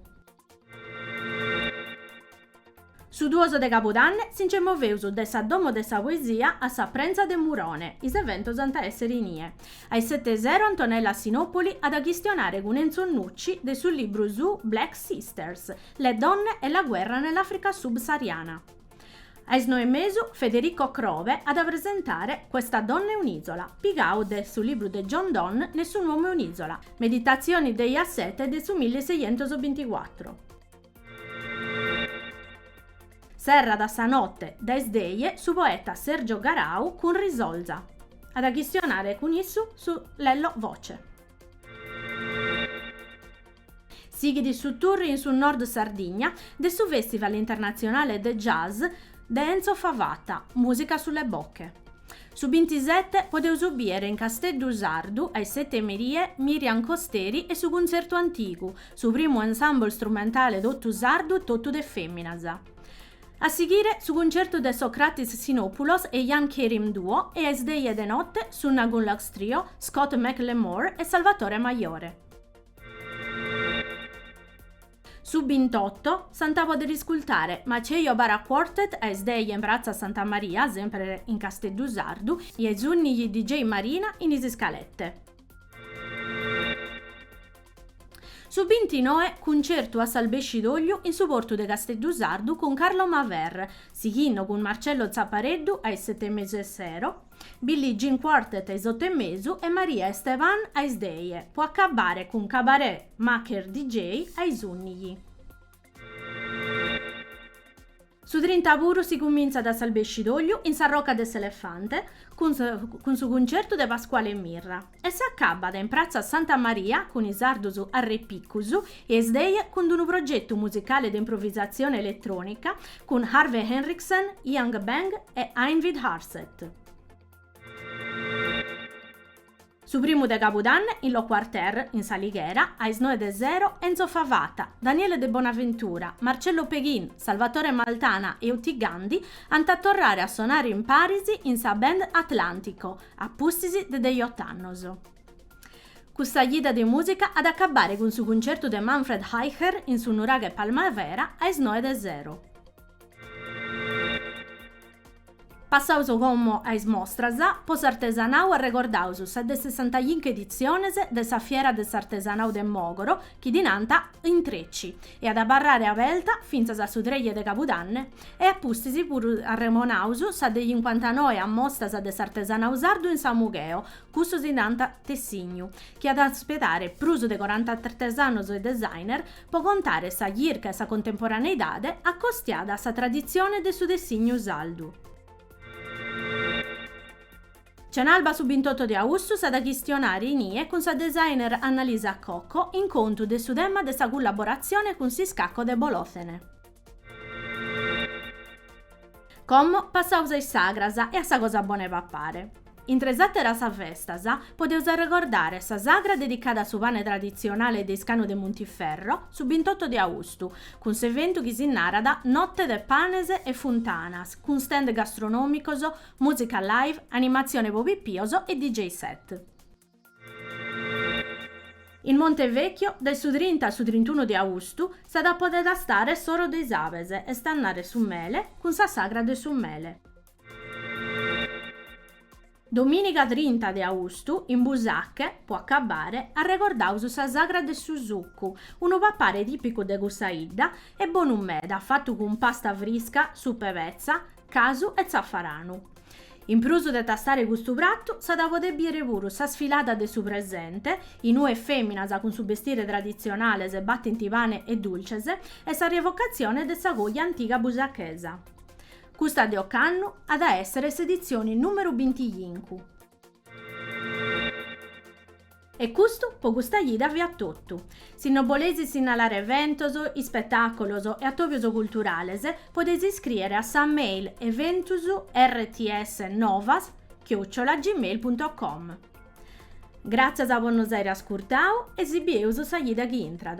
Su duos de cabudanne si nce moveus de sa Domo de sa Poesia a sa Prentza de Murone, is eventos ant a èssere in ie. A is sete 'e sero Antonella Sinopoli at a chistionare cun Enzo Nucci de su libru suu Black Sisters, Le donne e la guerra nell'Africa subsahariana. A is noe e mesu Federico Crove at a presentare Questa donna è un'isola, pigau de su libru de John Donne Nessun uomo è un'isola, Meditazioni deiassete de su milleseientosbinticuatru. Serrat sa note dae is deie su poeta Sergio Garau cun Risolza. At a chistionare cun issu su Lello Voce. Sighit su tour in su Nord Sardigna de su Festival Internatzionale de Jazz de Enzo Favata, Musica sulle bocche. Su bintisete podeus bìere in Casteddu Sardu a is sete 'e merie Miriam Costeri e su Cuntzertu Antigu, su primu ensemble strumentale totu sardu e totu de fèminas. A sighire su cuncertu de Sokratis Sinopoulos e Yann Keerim Duo e a is deie de note Sunna Gunnlaugs Trio, Scott McLemore e Salvatore Maiore. Su bintotto s'ant a poder iscultare Maciej Obara Quartet a is deie in Pratza Santa Maria, semper in Casteddu Sardu, e a is ùnnighi DJ Marina in is Scalette. Su bintinoe cuncertu a s'albescidògliu in su Portu de Casteddu Sardu cun Carlo Maver, sighindo cun Marcello Zappareddu a is sete e mesu 'e sero, Billie Jean Quartet a is otu e mesu e Maria Esteban a is deie, po acabbare cun Cabaret Maker DJ a is ùnnighi. Su trinta puru si cumintzat a s'albescidògliu in sa Roca de s'Elefante cun su cuncertu de Pasquale Mirra. E s'acabat in pratza Santa Maria cun is sardus Arrepicus e is deje cun d-unu progetu musicale de improvisatzione eletrònica cun Arve Henriksen, Jan Bang e Eivind Aarset. Su primu de cabudanne in Lo Quarter, in s'Alighera, a is noe de sero, Enzo Favata, Daniele de Bonaventura, Marcello Peghin, Salvatore Maltana e U.T. Gandhi ant a torrare a sonare in paris in sa band Atlantico, a pustis de deiotu annos. Custa jida de mùsica at a acabare cun su cuncertu de Manfred Eicher in su Nuraghe Palmavera a is noe de sero. Passaus como a is mostras, po s'artesanau arregordaus sa de sessantacincu editziones de sa Fiera de s'Artesanau de Mògoro chi ddi nant Intrecci e at a abarrare aberta fintzas a su trexi de cabudanne, e a pustis puru arremonaus sa de cincuantanoe ammostas de s'artesanau sardu in Samugheo, cussu si nant Tessingiu, chi at a ospedare prus de corant'artesanos e designer po contare sa chirca e sa contemporaneidade acostiada a sa traditzione de su tessignu sardu. Cenalba su bintotu de austu s'at a chistionare in ie cun sa designer Annalisa Cocco in contu de su tema de sa cullaboratzione cun S'Iscaccu de Bolòtzene. Como passaus a is sagras e a sa cosa bona 'e papare. Intre is àteras festas, podeus arregordare sa sagra dedicada a su pane traditzionale de Iscanu de Montiferro, su bintotu de austu, cun s'eventu chi si narat Notte de panes e funtanas, cun stand gastronòmicos, mùsica live, animatzione po pipios e dj set. In Montevecchio, dae su trinta a su trintunu de austu, s'at a poder tastare s'oro de is abes, est a nare su mele, cun sa sagra de su mele. Domìniga trinta de austu, in Busache, po acabare, arregordaus sa sagra de su sucu, unu papare tìpicu de cussa 'idda e bonu meda, fatu cun pasta frisca, supa 'e petza, Casu e tzafaranu. In prus de tastare custu pratu s'at a poder bìdere puru sa sfilada de su presente, in ue fèminas cun su bestire traditzionale se batint pane e dulces, e sa rievocatzione de sa coja antiga busachesa. Custa de ocannu at a èssere s'editzione nùmeru binti-e-chincu. E custu po custa jida fiat totu. Si nos boleis sinnalare eventos, ispetàculos e atòvios culturales, podeis iscrìere a sa mail eventusrtsnovas chiocciola gmail punto com. Gràtzias po nos àere ascurtadu e si bieus sa jida chi intrat.